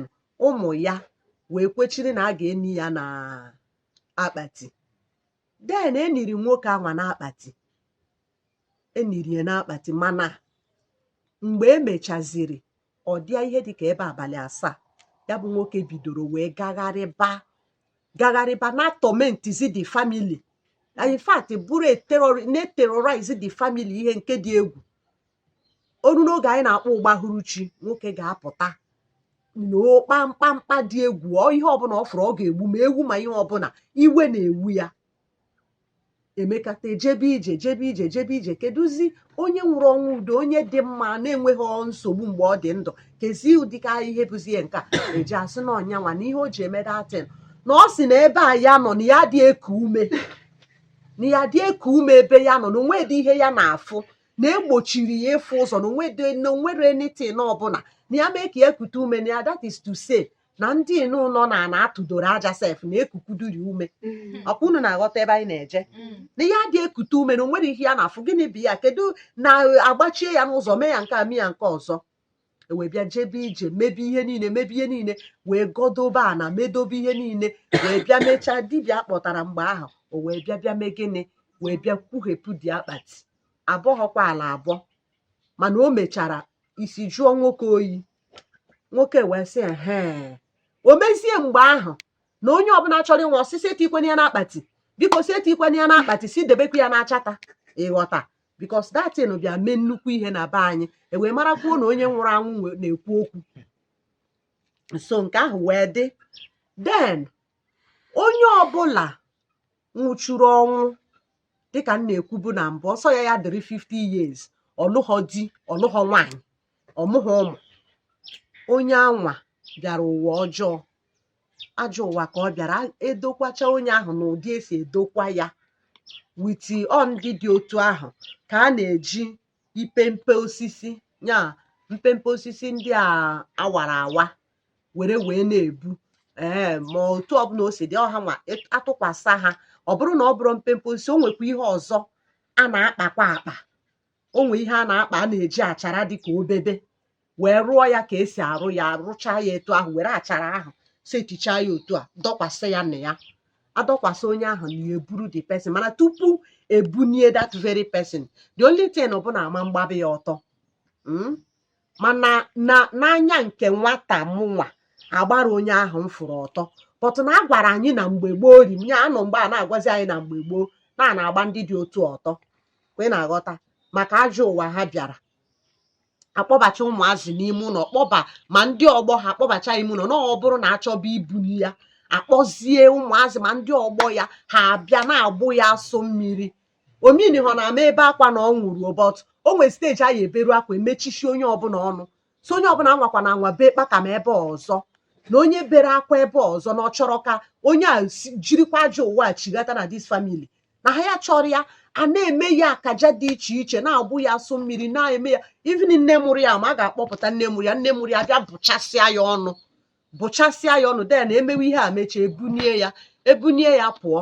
ụmụ ya wee kwechiri na a ga-eni ya na akpati den eniri nwoke anwa na akpati eniri ya na akpati mana mgbe emechaziri ọ dịa ihe dịka ebe abalị asaa ya bụ nwoke bidoro wee gagharịba gagharịba na tọmentizi the family in fact bụrụ na-eterorize the family ihe nke dị egwu o ruo n'oge anyị na-akpọ ụgbahuruchi nwoke ga-apụta na-akpa mkpamkpa dị egwu ihe ọbụna ọ fụrụ ọ ga-egbu ma ewu ma ihe ọbụna iwe na-ewu ya emekata ejebe ije jebe ije jebe ije kedụzi onye nwụrụ ọnwụ udo onye dị mma na-enweghị nsogbu mgbe ọ dị ndụ kezi ụdịka ihe bụzi ihe nke a eji asị na onye anwa na ihe o ji eme datin na ọ sị na ebe a ya nọ na ya adị eku ume na ya adị eku ume ebe ya nọ na onwedị ihe ya na-afụ na egbochiri ya ịfụ ụzọ na onwere anything ọbụla na ya mee ka ya kute ume na ya that is to say na ndị nọ na ana atụdoro aja sef na-ekukuduri ume ọkwa unu na-aghọta ebe anyị na-eje na ya adị ekute ume na onwere ihe ya na-afụ gịnị bụ ya kedu na agbachie ya n'ụzọ mee ya nke a mee ya nke ọzọ ewee bịa jebe ije mebe ihe niile mebe ihe niile wee gọdobe ana medobe ihe niile wee bịa mechaa dibịa kpọtara mgbe ahụ o wee bịa bịa mee gịnị wee bịa kwughepụ dị akpati abọghọkwa ala abọ mana o mechara isi jụọ nwoke oyi nwoke wee sị ehe o mezie mgbe ahụ na onye ọbụla chọrọ ịnwụ ọ sị sị etikwana ya n'akpati biko sị etikwana ya n'akpati sị debekwa ya n'achara ịghọta because that thing bịa mee nnukwu ihe na be anyị ewee marakwuo na onye nwụrụ anwụ na-ekwu okwu so nke ahụ wee dị then onye ọbụla nwụchuru ọnwụ dịka m na-ekwubu na mbụ ọ sọ ya ya dịrị 50 years ọlụghọ di ọlụghọ nwaanyị ọmụghọ ụmụ onye anwa bịara ụwa ọjọọ ajọ ụwa ka ọ bịara edokwacha onye ahụ na ụdị esi edokwa ya with ọ ndị dị otu ahụ ka a na-eji ipempe osisi ya mpempe osisi ndị a awara awa were wee na-ebu ee ma otu ọbụla o si dị ọ ha nwa atụkwasa ha ọ bụrụ na ọ bụrụ mpempe osisi o nwekwa ihe ọzọ a na-akpakwa akpa o nwee ihe a na-akpa a na-eji achara dị ka obebe wee rụọ ya ka esi arụ ya rụchaa ya etu ahụ were achara ahụ setichaa ya otu a dọkwasị ya na ya adọkwasị onye ahụ na ya eburu the person mana tupu ebunie that very person the only thing bụ na ama mgbabe ya ọtọ mm? mana n'anya nke nwata mụnwa agbarọ onye ahụ m fụrụ ọtọ but na a gwara anyị na mgbe gboo ri m ya anọ mgbe a na-agwazi anyị na mgbe gboo na a na-agba ndị dị otu ọtọ kwa ị na-aghọta maka ajọ ụwa ha bịara akpọbacha ụmụazị n'ime ụlọ kpọba ma ndị ọgbọ ha akpọbacha ime ụlọ na ọ bụrụ na achọba ibuni ya akpọzie ụmụazị ma ndị ọgbọ ya ha abịa na-agbụ ya asụ mmiri o meanihọ na ama ebe akwa na ọ nwụrụ o but o nwere stage a ya eberu akwa emechichi onye ọbụla ọnụ so onye ọbụla anwakwana anwa bee kpakam ebe ọzọ na onye bere akwa ebe ọzọ na ọ chọrọ ka onye a jirikwa ajọ ụwa a chighata na this family na ha ya chọrọ ya a na-eme ya akaja dị iche iche na-agbụ ya asụ mmiri na-eme ya even nne mụrụ ya ma a ga-akpọpụta nne mụrụ ya nne mụrụ ya bịa bụchasịa ya ọnụ bụchasịa ya ọnụ then emewe ihe a mechaa ebunie ya ebunie ya pụọ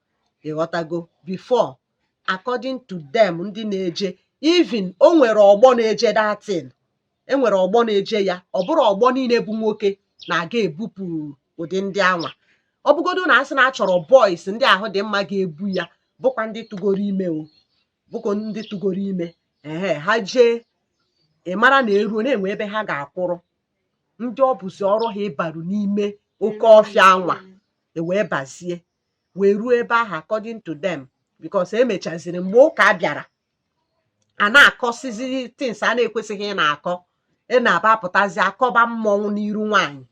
ịghọtago before according to them ndị na-eje even o nwere ọgbọ na-eje that thing enwere ọgbọ na-eje ya ọ bụrọ ọgbọ niile bụ nwoke na-aga ebupụ ụdị ndị anwa ọ bụgodo na asị na achọrọ boys ndị ahụ dị mma ga-ebu ya bụkwa ndị tụgoro ime o bụkwa ndị tụgoro ime ee ha jee ị mara na eruo na-enwe ebe ha ga-akwụrụ ndị ọ bụzi ọrụ ha ịbaru n'ime oke ọfịa anwa ewee bazie wee ruo ebe ahụ according to them because emechaziri mgbe ụka bịara a na-akọsizi things a na-ekwesịghị ị na-akọ ị na-aba apụtazi akọba mmọnwụ n'iru nwaanyị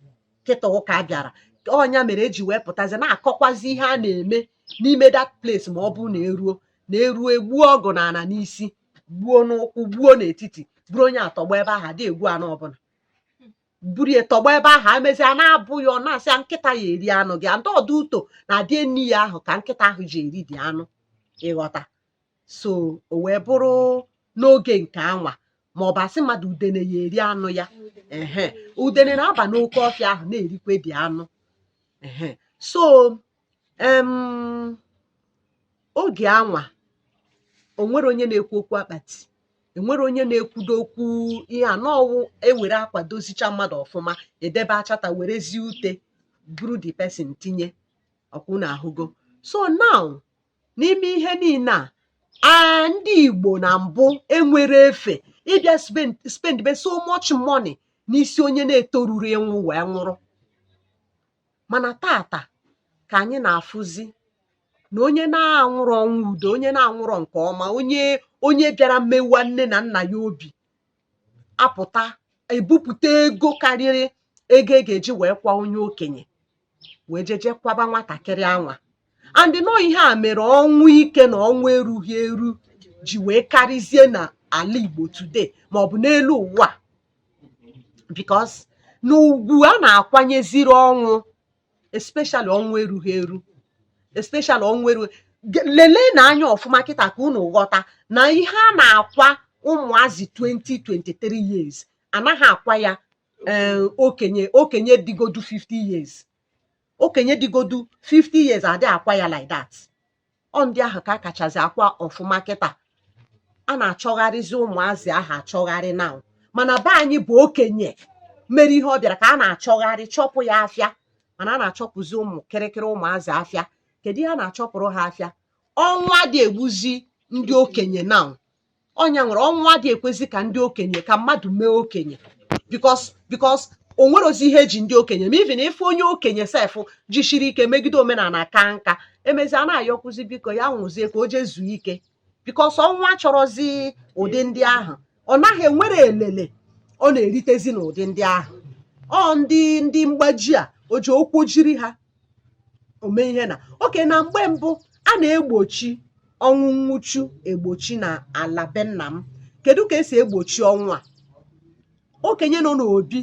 kịta ụka bịara ọ nya mere eji wee pụtazi na-akọkwazi ihe a na-eme n'ime that place ma ọ bụrụ na eruo na eruo egbuo ọgụ na ana n'isi gbuo n'ụkwụ gbuo n'etiti buru onye a tọgbọ ebe ahụ adị egwu ana ọbụla buru ya tọgbọ ebe ahụ amezi a na-abụ ya ọnụ asị ya nkịta ya eri anụ gị and ọ due to na adị eni ya ahụ ka nkịta ahụ ji eri the anụ ị ghọta so o wee bụrụ n'oge nke anwa ma ọ bụ asị mmadụ udene ya eri anụ ya ehe udene na-aba n'oke ọfịa ahụ na-erikwe the anụ ehe so um oge anwa o nwere onye na-ekwu okwu akpati enwere onye na-ekwudo okwu ihe a n'ọwụ ewere akwa dozicha mmadụ ọfụma edebe achata werezi ute buru the person tinye ọ kwa unu ahụgo so now n'ime ihe niile a ndị Igbo na mbụ enwere efe ịbịa spend be so much money n'isi onye na-etoruru ịnwụ wee nwụrụ mana tata ka anyị na-afụzi na onye na-anwụrọ ọnwụ udo onye na-anwụrọ nke ọma onye onye bịara mewa nne na nna ya obi apụta ebupụta ego karịrị ego e ga-eji wee kwa onye okenye wee jeje kwaba nwatakịrị anwa and nọ ihe a mere ọnwụ ike na ọnwụ erughị eru ji wee karịzie na ala Igbo today maọbụ n'elu ụwa because na ugwu a na-akwanyeziri ọnwụ especially ọnwụ erughị eru especially ọnwụ erughị leleenụ anya ọfụma kịta ka unu ghọta na ihe a na-akwa ụmụazị 20 23 years anaghị akwa ya eh, okenye okenye dịgodu 50 years okenye dịgodu 50 years adị akwa ya like that ọ ndị ahụ ka a kachazi akwa ọfụma kịta a na-achọgharịzi ụmụazị ahụ achọgharị now mana be anyị bụ okenye mere ihe ọ bịara ka a na-achọgharị chọpụ ya afịa mana a na-achọpụzi ụmụ kịrịkịrị ụmụazị afịa kedu ihe a na-achọpụrụ ha afịa ọnwụ adị egbuzi ndị okenye now ọnya nwere ọnwụ adị ekwezi ka ndị okenye ka mmadụ mee okenye because because o nwerọzi ihe eji ndị okenye eme even if onye okenye sef jisiri ike megide omenala kaa nka emezi a na-ayọkwuzi biko ya nwụzie ka o jee zuo ike because ọnwụ achọrọzi ụdị ndị ahụ ọ naghị enwere elele ọ na-eritezi n'ụdị ndị ahụ ọ ndị ndị mgbaji a o ji okwu jiri ha ome ihe na oke na mgbe mbụ a na-egbochi ọnwụ nwụchu egbochi na ala be nna m kedu ka esi egbochi ọnwụ a okenye nọ n'obi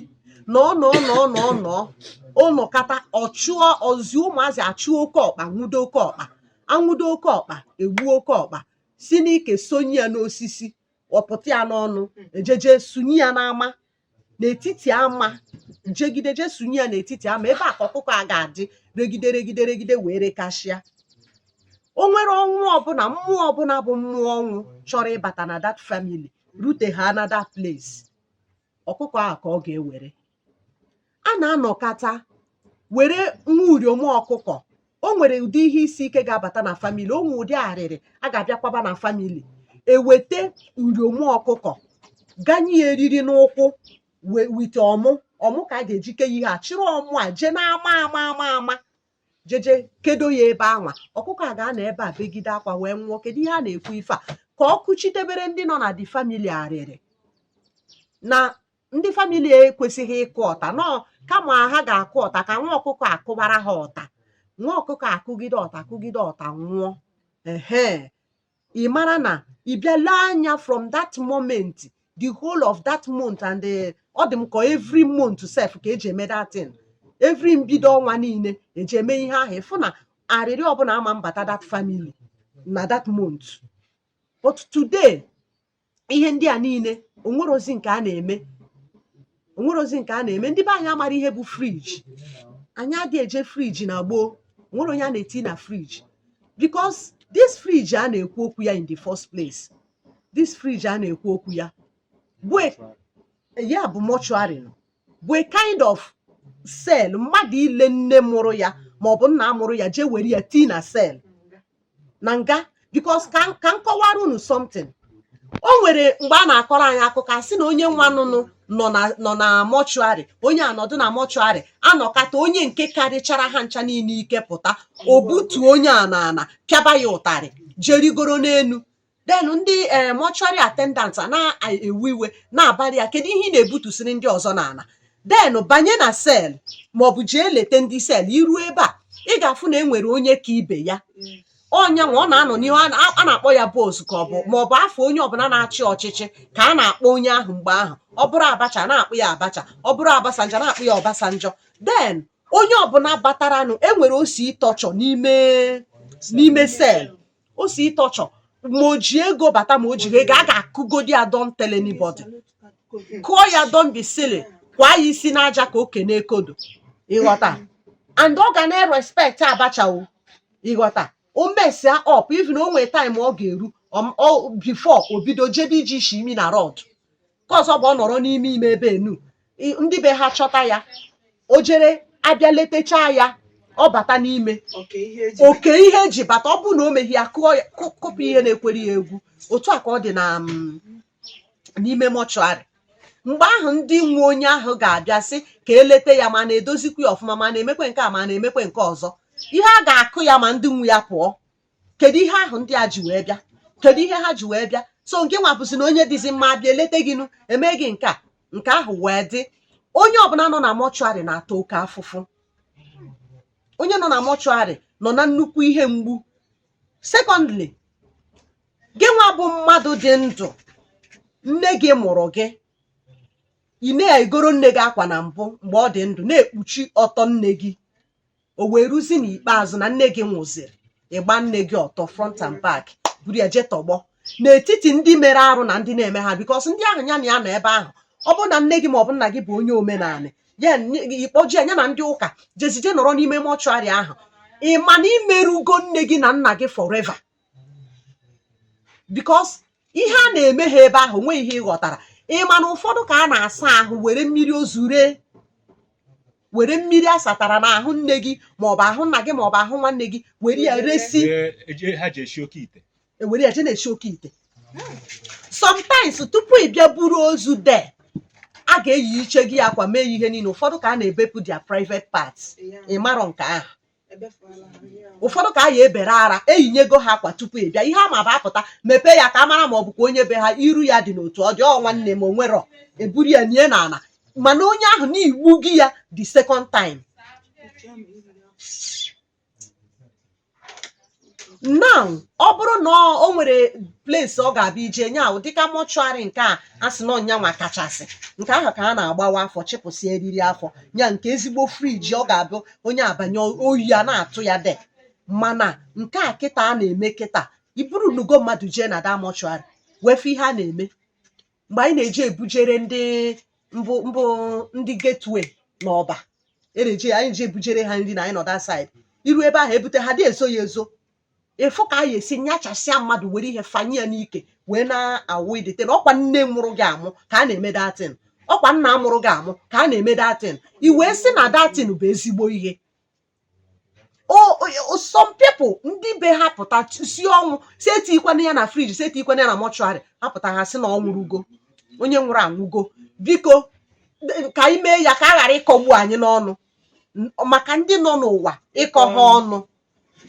na ọ nọ nọ nọ nọ ọ nọkata ọ chụọ o zi ụmụazị achụọ oke ọkpa nwụdo oke ọkpa anwụdo oke ọkpa egbuo oke ọkpa si n'ike sonye ya n'osisi ọ pụta ya n'ọnụ ejeje sunye ya n'ama n'etiti ama jegide je sunye ya n'etiti ama ebe a ka ọkụkọ a ga-adị regide regide regide wee rekashịa o nwere ọnwụ ọbụla mmụọ ọbụla bụ mmụọ ọnwụ chọrọ ịbata na that family rute ha na that place ọkụkọ ahụ ka ọ ga-ewere a na-anọkata were nwa uriom ọkụkọ o nwere ụdị ihe isi ike ga-abata na family o nwe ụdị arịrị a ga-abịakwaba na family eweta uriom ọkụkọ ganye ya eriri n'ụkwụ wite ọmụ ọmụ ka a ga-eji ke ihe a chịrị ọmụ a jee n'ama ama ama ama jeje kedo ya ebe anwa ọkụkọ a ga-anọ ebe a begide akwa wee nwụọ kedu ihe a na-ekwu ife a ka ọ kụchitebere ndị nọ na the family arịrị na ndị family ekwesịghị ịkụ ọta no kama ha ga-akụ ọta ka nwa ọkụkọ akụbara ha ọta nwa ọkụkọ akụgide ọta akụgide ọta nwụọ ehe ị mara na ị bịa lee anya from that moment the whole of that month and the ọ dị m ka every month sef ka eji eme that thing every mbido ọnwa niile eji eme ihe ahụ ịfụ na arịrị ọbụla ama mbata that family na that month but today ihe ndị a niile o nwerozi nke a na-eme o nwerozi nke a na-eme ndị be anyị amara ihe bụ fridge anyị adị eje fridge na gboo onwere onye a na-eti na fridge because this fridge a na-ekwu okwu ya in the first place this fridge a na-ekwu okwu ya bụ e, ya bụ mortuary bụ a kind of cell mmadụ ile nne mụrụ ya ma ọ bụ nna mụrụ ya jee were ya tii na cell na nga because ka m- ka m kọwara unu something o nwere mgbe a na-akọrọ anyị akụkọ a sị na onye nwa nụnụ nọ na nọ na mortuary onye anọdụ na mortuary anọkata onye nke karịchara ha ncha niile ike pụta o butuo onye a n'ana pịaba ya ụtarị jerigoro n'elu then ndị eh, mortuary attendant a na-ewe iwe na-abara ya kedu ihe ị na-ebutusiri ndị ọzọ n'ala then banye na cell maọbụ jee leta ndị cell i ruo ebe a ị ga-afụ na e nwere onye ka ibe ya onye anwa ọ na-anọ n'ihu a na- a na-akpọ ya boss ka ọ bụ maọbụ afa onye ọbụla na-achị ọchịchị ka a na-akpọ onye ahụ mgbe ahụ ọ bụrụ abacha na-akpọ ya abacha ọ bụrụ obasanjo na-akpọ ya obasanjo then onye ọbụla bataranụ enwere osi torture n'ime n'ime cell o si ịtọchọ ma o ji ego bata ma o jirọ ego a ga-akụgodi ya don't tell anybody kụọ ya don't be silly kwa ya isi n'aja ka oke na-ekodo ịghọta and ọ ga na-erespect Abacha o ịghọta o mesia up even o nwee time ọ ga-eru ọ- ọ- before o bido jebe iji isi imi na rod ka ọzọ bụ ọ nọrọ n'ime ime ebe enu I- ndị be ha chọta ya o jere abịa letechaa ya ọ bata n'ime oke ihe eji oke ihe eji bata ọ bụrụ na o meghị ya kụọ ya kụ- kụpụ ihe na-ekwere ya egwu otu a ka ọ dị na mm, n'ime mortuary mgbe ahụ ndị nwe onye ahụ ga-abịa sị ka elete ya ma na-edozikwa ya ọfụma ma na-emekwe nke a ma na-emekwe nke ọzọ ihe a ga-akụ ya ma ndị nwe ya pụọ kedu ihe ahụ ndị a ji wee bịa kedu ihe ha ji wee bịa so ngị nwa bụzi na onye dịzi mma abịa eleta gị nụ eme gị nke a nke ahụ wee dị onye ọbụla nọ na mortuary na-ata oke afụfụ onye nọ na mortuary nọ na nnukwu ihe mgbu secondly gị nwa bụ mmadụ dị ndụ nne gị mụrụ gị ị na-egoro nne gị akwa na mbụ mgbe ọ dị ndụ na-ekpuchi ọtọ nne gị o wee ruzi n'ikpeazụ na nne gị nwụziri ị gbaa nne gị ọtọ front and back buru ya jee tọgbọ n'etiti ndị mere arụ na ndị na-eme ha because ndị ahụ ya na ya nọ ebe ahụ ọ bụrụ na nne gị maọbụ nna gị bụ onye omenala ya ị kpọji ya na ndị ụka jezije nọrọ n'ime mortuary ahụ ị ma na i merụgo nne gị na nna gị forever because ihe a na-eme ha ebe ahụ nweghị ihe ị ghọtara ị ma na ụfọdụ ka a na-asa ahụ were mmiri ozu ree were mmiri a satara n'ahụ nne gị maọbụ ahụ nna gị maọbụ ahụ nwanne gị were ya resi Ee, eje- ha ji esi oke ite ewere ya je na-esi oke ite sometimes tupu ị bịa buru ozu de a ga-eyichego ya akwa mee ya ihe niile ụfọdụ ka a na-ebepụ their private parts ị marọ nke ahụ ụfọdụ ka a ya-ebere ara eyinyego ha akwa tupu ị bịa ihe a ma bụ apụta mepee ya ka a mara ma ọ bụkwa onye be ha iru ya dị n'otu ọ dị ọ nwanne m onwerọ eburu ya nie n'ala mana onye ahụ na i gbugo ya the second time now ọ bụrụ na ọ- o nwere place ọ ga-abịa ije nya ahụ dịka mortuary nke a a sị na ọ nya nwa kachasị nke ahụ ka a na-agbawa afọ chịpụsị eriri afọ ya nke ezigbo fridge ọ ga-abụ onye abanye oyi a na-atụ ya de mana nke a kịta a na-eme kịta i burunugo mmadụ jee na that mortuary wee fụ ihe a na-eme mgbe anyị na-eji ebujere ndị mbụ mbụ ndị Gateway na Ọba e na-eji anyị ji ebujere ha nri na anyị nọ that side iru ebe ahụ ebute ha dị ezo ya ezo ịfụ ka a ya-esi nyachasịa mmadụ were ihe fanye ya n'ike wee na-awụ idete na ọkwa nne mụrụ gị amụ ka a na-eme that thing ọkwa nna mụrụ gị amụ ka a na-eme that thing i wee sị na that thing bụ ezigbo ihe some people ndị be ha pụta sị ọ nwụọ si etikwana ya na friji si etikwana ya na mọchụarị ha pụta ha sị na ọ nwụrụgo onye nwụrụ anwụgo biko ka anyị mee ya ka a ghara ịkọgbu anyị n'ọnụ maka ndị nọ n'ụwa ịkọ ha mm. ọnụ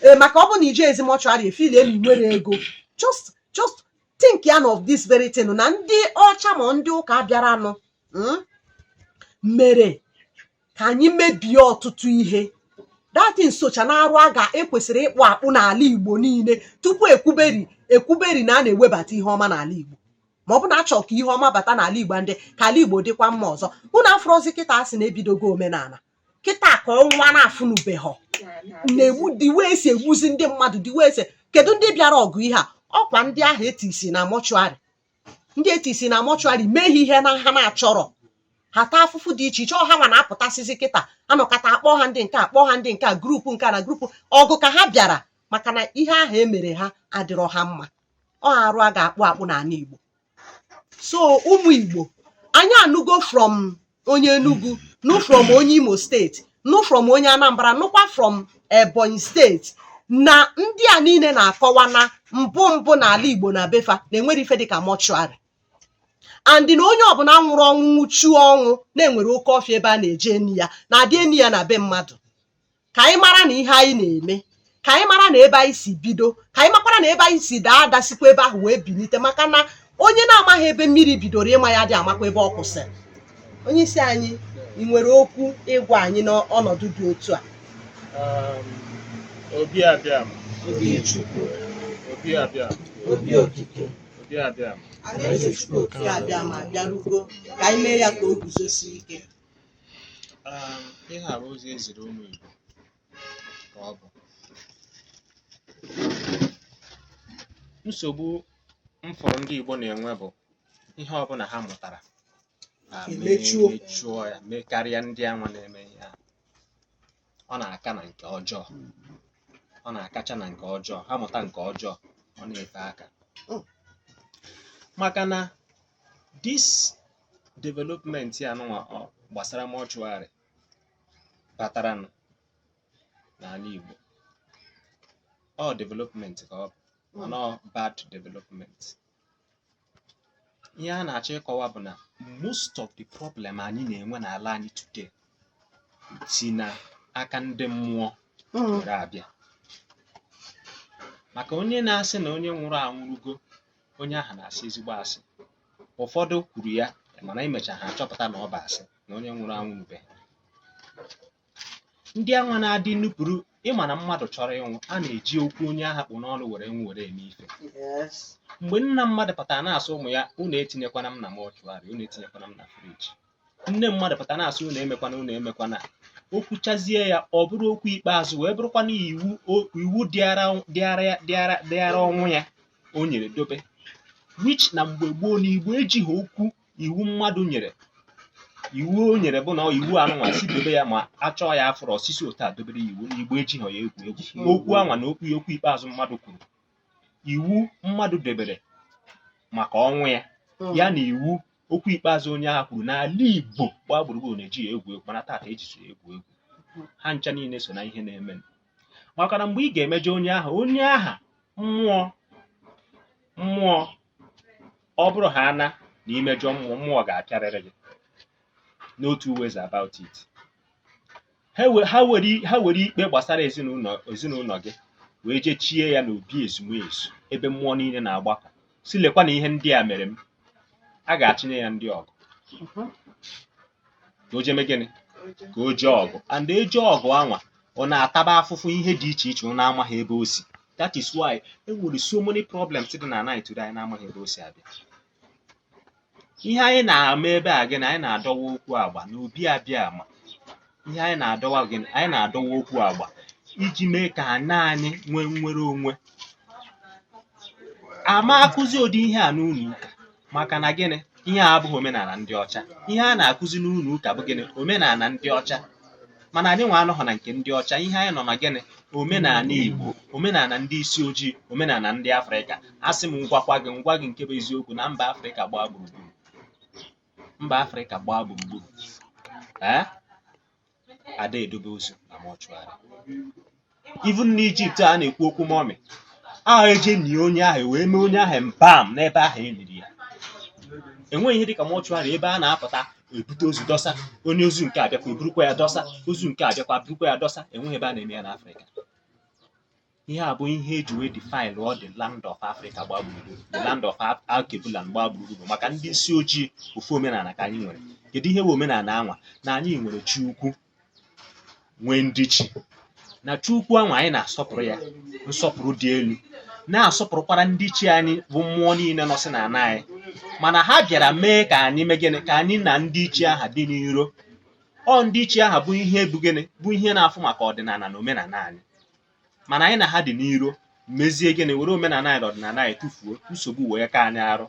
ee maka ọ bụ na iji ezi mọchụarị efili elu nwere ego just just think ya of this very thing na ndị ọcha ma ndị ụka bịaranụ hmm, mere ka anyị mebie ọtụtụ ihe dati nsọcha na arụ a ga-ekwesịrị ịkpụ akpụ n'ala Igbo niile tupu ekwuberi ekwuberi na a na-ewebata ihe ọma n'ala Igbo ma ọ bụ na achọ ka ihe ọma bata n'ala Igbo and ka ala Igbo dịkwa mma ọzọ unu afụrụzi kịta a sị na ebidogo omenala kịta ka ọnwa na-afụnubeghọ na-egbu the way e si egbuzi ndị mmadụ the way e si kedu ndị bịara ọgụ ihe a ọkwa ndị ahụ etisi na mọchụarị ndị etisi na mọchụarị mee ha ihe na ha na-achọrọ ha taa afụfụ dị iche iche ọ hanwa na-apụtasịzi kịta anọkata akpọ ha ndị nke akpọ ha ndị nke a grupu nke a na grupu ọgụ ka ha bịara maka na ihe ahụ emere ha adịrọ ha mma ọ arụ a ga-akpụ akpụ n'ala Igbo so ụmụ Igbo anyị anụgo from onye Enugu nụ from onye Imo steeti nụ from onye Anambra nụkwa from Ebonyi steeti na ndị a niile na-akọwa na mbụ mbụ n'ala Igbo na be fa na enwere ife dịka mọchụarị and na onye ọbụla nwụrụ ọnwụ nwụchuo ọnwụ na e nwere oke ọfịa ebe a na-eje eni ya na adị eni ya na be mmadụ ka anyị mara na ihe anyị na-eme ka anyị mara na ebe anyị si bido ka anyị makwara na ebe anyị si daa ada sikwa ebe ahụ wee bilite maka na onye na-amaghị ebe mmiri bidoro ịma ya adị amakwa ebe ọ kwụsịrị onye isi anyị ị nwere okwu ịgwa anyị n'ọnọdụ dị otu a Um, obi abịama obi Chukwu obi abịama obi okike obi abịama alaeze Chukwu oke abịama bịarugo ka anyị mee ya ka o guzosie ike um, ihe a bụ ozi eziri ụmụ Igbo ka ọ bụ nsogbu m fụrụ ndị Igbo na-enwe bụ ihe ọbụla ha mụtara ha Emechuo. mechuo ya mekarịa ndị anwa na-eme ihe a ọ na-aka na nke ọjọọ ọ na-akacha na nke ọjọọ ha mụta nke ọjọọ ọ na-efe aka Oh. maka na this development a nụnwa ọ gbasara mọchụarị batara nụ n'ala Igbo ọ development ka ọ bụ mana ọ bad development ihe a na-achọ ịkọwa bụ na most of the problem anyị na-enwe n'ala anyị today si na aka ndị mmụọ Mm. were abịa maka onye na-asị na onye nwụrụ anwụrụgo onye ahụ na-asị ezigbo asị ụfọdụ kwuru ya mana imecha ha achọpụta na ọ bụ asị na onye nwụrụ anwụrụbe ndị anwa na-adị nupụrụ ịma na mmadụ chọrọ ịnwụ a na-eji okwu onye ahụ kpụ n'ọnụ were nwụ were eme ife Yes. mgbe nna mmadụ pụtara na-asị ụmụ ya unu etinyekwana m na mọchụarị unu etinyekwana m na friji nne mmadụ pụtara na-asị unu emekwana unu emekwana o kwuchazie ya ọ bụrụ okwu ikpeazụ wee bụrụkwana iwu o- iwu dịara dịara ya- dịara dịara ọnwụ ya o nyere dobe which na mgbe gboo na igbo ejighị okwu iwu mmadụ nyere iwu o nyere bụ na ọ iwu anụnwa si dobe ya ma a chọọ ya afọrọ osisi otu a dobere ya iwu na igbo ejighị ya egwu egwu n'okwu anwa na okwu ya okwu ikpeazụ mmadụ kwuru iwu mmadụ debere maka ọnwụ ya ya na iwu okwu ikpeazụ onye aha kwuru n'ala igbo gbaa gburugburu na-eji ya egwu egwu mana tata ejizi ya egwu egwu ha ncha niile so na ihe na-eme maka na mgbe ị ga-emejọ onye ahụ onye aha mmụọ mmụọ ọ bụrụ ha ana na i mejọọ mmụọ mmụọ ga-apịarịrị gị no two ways about it ha we- ha were ha were ikpe gbasara ezinụlọ ezinụlọ gị wee jee chie ya n'obi ezumezu ebe mmụọ niile na-agbakọ sị lekwa na ihe ndị a mere m a ga-achịnye ya ndị ọgụ ka o je mee gịnị ka o jee ọgụ and e jee ọgụ anwa ọ na-ataba afụfụ ihe dị iche iche ọ na-amaghị ebe o si that is why e nwere so many problems dị na ana today anyị na-amaghị ebe o si abịa ihe anyị na-eme ebe a gịnị anyị na-adọwa okwu agba n'obi abịama ihe anyị na-adọwa gịnị anyị na-adọwa okwu agba iji mee ka ana anyị nwee nnwere onwe ama akụzi ụdị ihe a n'ụlọ ụka maka na gịnị ihe a abụghị omenala ndị ọcha ihe a na-akụzi n'ụlọ ụka bụ gịnị omenala ndị ọcha mana anyị nwa anọghọ na nke ndị ọcha ihe anyị nọ na gịnị omenala igbo omenala ndị isi ojii omenala ndị afrịka asị m m gwakwa gị m gwa gị nke bụ eziokwu na mba afrịka gbaa gburugburu mba afrịka gbaa gburugburu ee ada edobe ozu na mọchụarị even n'Ijipt a na-ekwu okwu mọmị ahụ e jee nie onye ahụ wee mee onye ahụ embalm n'ebe ahụ e liri ya enweghị ihe dịka mọchụarị ebe a na-apụta ebute ozu dọsa onye ozu nke a bịakwa eburukwa ya dọsa ozu nke a bịakwa burukwa ya dọsa enweghị ebe a na-eme ya n'Afrịka ihe a bụ ihe e ji wee defile ọ the land of Africa gbaa gburugburu the land of Af- Alkebulan gbaa gburugburu maka ndị isi ojii ofu omenala ka anyị nwere kedu ihe bụ omenala anwa na anyị nwere chi ukwu nwee ndị chi na chi ukwu anwa anyị na-asọpụrụ ya nsọpụrụ dị elu na-asọpụrụkwara ndị chi anyị bụ mmụọ niile nọsị na ana anyị mana ha bịara mee ka anyị mee gịnị ka anyị na ndị chi aha dị n'iro ọ ndị chi aha bụ ihe bụ gịnị bụ ihe na-afụ maka ọdịnala na omenala anyị mana anyị na ha dị n'iro mezie gịnị were omenala anyị na ọdịnala anyị tụfuo nsogbu wee ka anyị arụ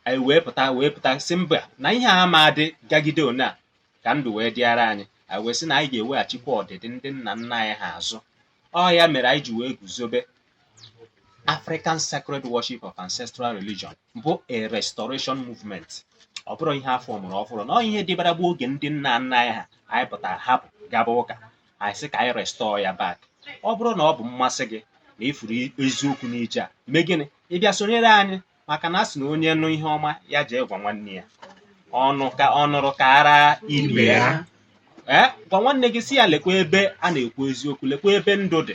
anyị wee pụta wee pụta sị mba na ihe a ma adị gagide one a ka ndụ wee dịara anyị anyị wee sị na anyị ga-eweghachikwa ọdịdị ndị nna nna anyị ha azụ ọ ya mere anyị ji wee guzobe African Sacred Worship of Ancestral Religion bụ a restoration movement ọ bụrụ ihe afọ mụrụ ọfụrụ na ọ ihe dịbara bụ oge ndị nna nna anyị ha anyị pụtara hapụ gaba ụka anyị sị ka anyị restore ya back ọ bụrụ na ọ bụ mmasị gị na ị fụrụ eziokwu n'ije a mee gịnị ị bịa sonyere anyị maka na a sị na onye nụ ihe ọma ya jee gwa nwanne ya ọ nụrụ kara ibe ya ee gwa nwanne gị sị ya lekwa ebe a na-ekwu eziokwu lekwa ebe ndụ dị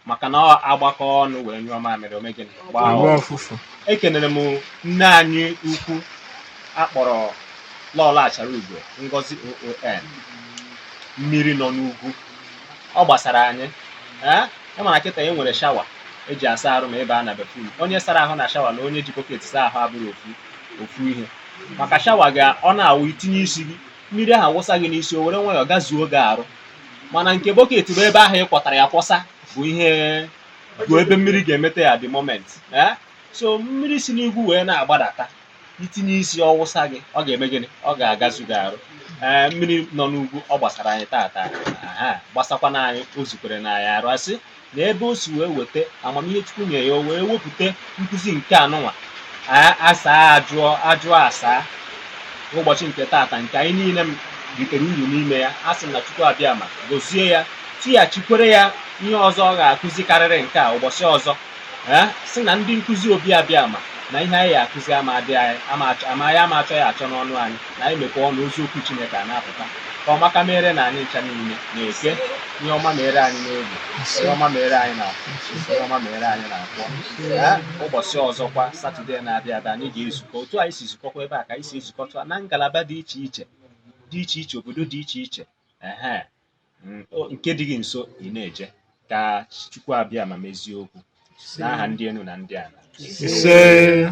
maka na a gbakọọ ọnụ wee nyụọ mamịrị o mee gịnị gbaa ọfụfụ. ekenere m nne anyị ukwu akpọrọ lọlọ achara ugo ngozi oon mmiri nọ n'ugwu ọ gbasara anyị ee ị ma na kịta e nwere shower e ji asa arụ ma ebe a na bathroom onye sara ahụ na shower na onye ji bucket saa ahụ abụrụ ofu ofu ihe maka shower ga ọ na-awụ i tinye isi gị mmiri ahụ awụsa gị n'isi o were nwayọọ gazuo gị arụ mana nke bucket bụ ebe ahụ ị kwọtara ya kwọsa bụ ihe bụ ebe mmiri ga-emeta ya the moment eh? so mmiri si n'ugwu wee na-agbadata i tinye isi ọ wụsa gị ọ ga-eme gịnị ọ ga-agazu gị arụ ee mmiri nọ n'ugwu ọ gbasara anyị tata aha gbasakwa na anyị o zukwere na anyị arụ a sị na ebe o si wee weta amamihe chukwu nyere ya o wee wepụta nkụzi nke anụnwa a- asaa ajụọ ajụọ asaa ụbọchị nke tata nke anyị niile m ritere uru n'ime ya a sị m na chukwu abịama gozie ya tighachikwere ya ihe ọzọ ọ ga-akụzi karịrị nke a ụbọchị ọzọ ee sị na ndị nkụzi obi abịama na ihe anyị ga-akụzi ama adị anyị ama achọ ya achọ n'ọnụ anyị na anyị mepee ọnụ ozi okwu Chineke a na-apụta ka ọma ka mere na anyị ncha niile na Eke ihe ọma mere anyị n'Oye ihe ọma mere anyị n'Afọ ihe ọma mere anyị na Nkwọ ee ụbọchị ọzọkwa Saturday na-abịa abịa anyị ga-ezukọ otu anyị si zukọkwa ebe a ka anyị si ezukọta na ngalaba dị iche iche dị iche iche obodo dị iche iche ehe mm, o- nke dị gị nso ị na-eje ka Chukwu Abịama mezie okwu n'aha ndị enu na ndị ala Ise.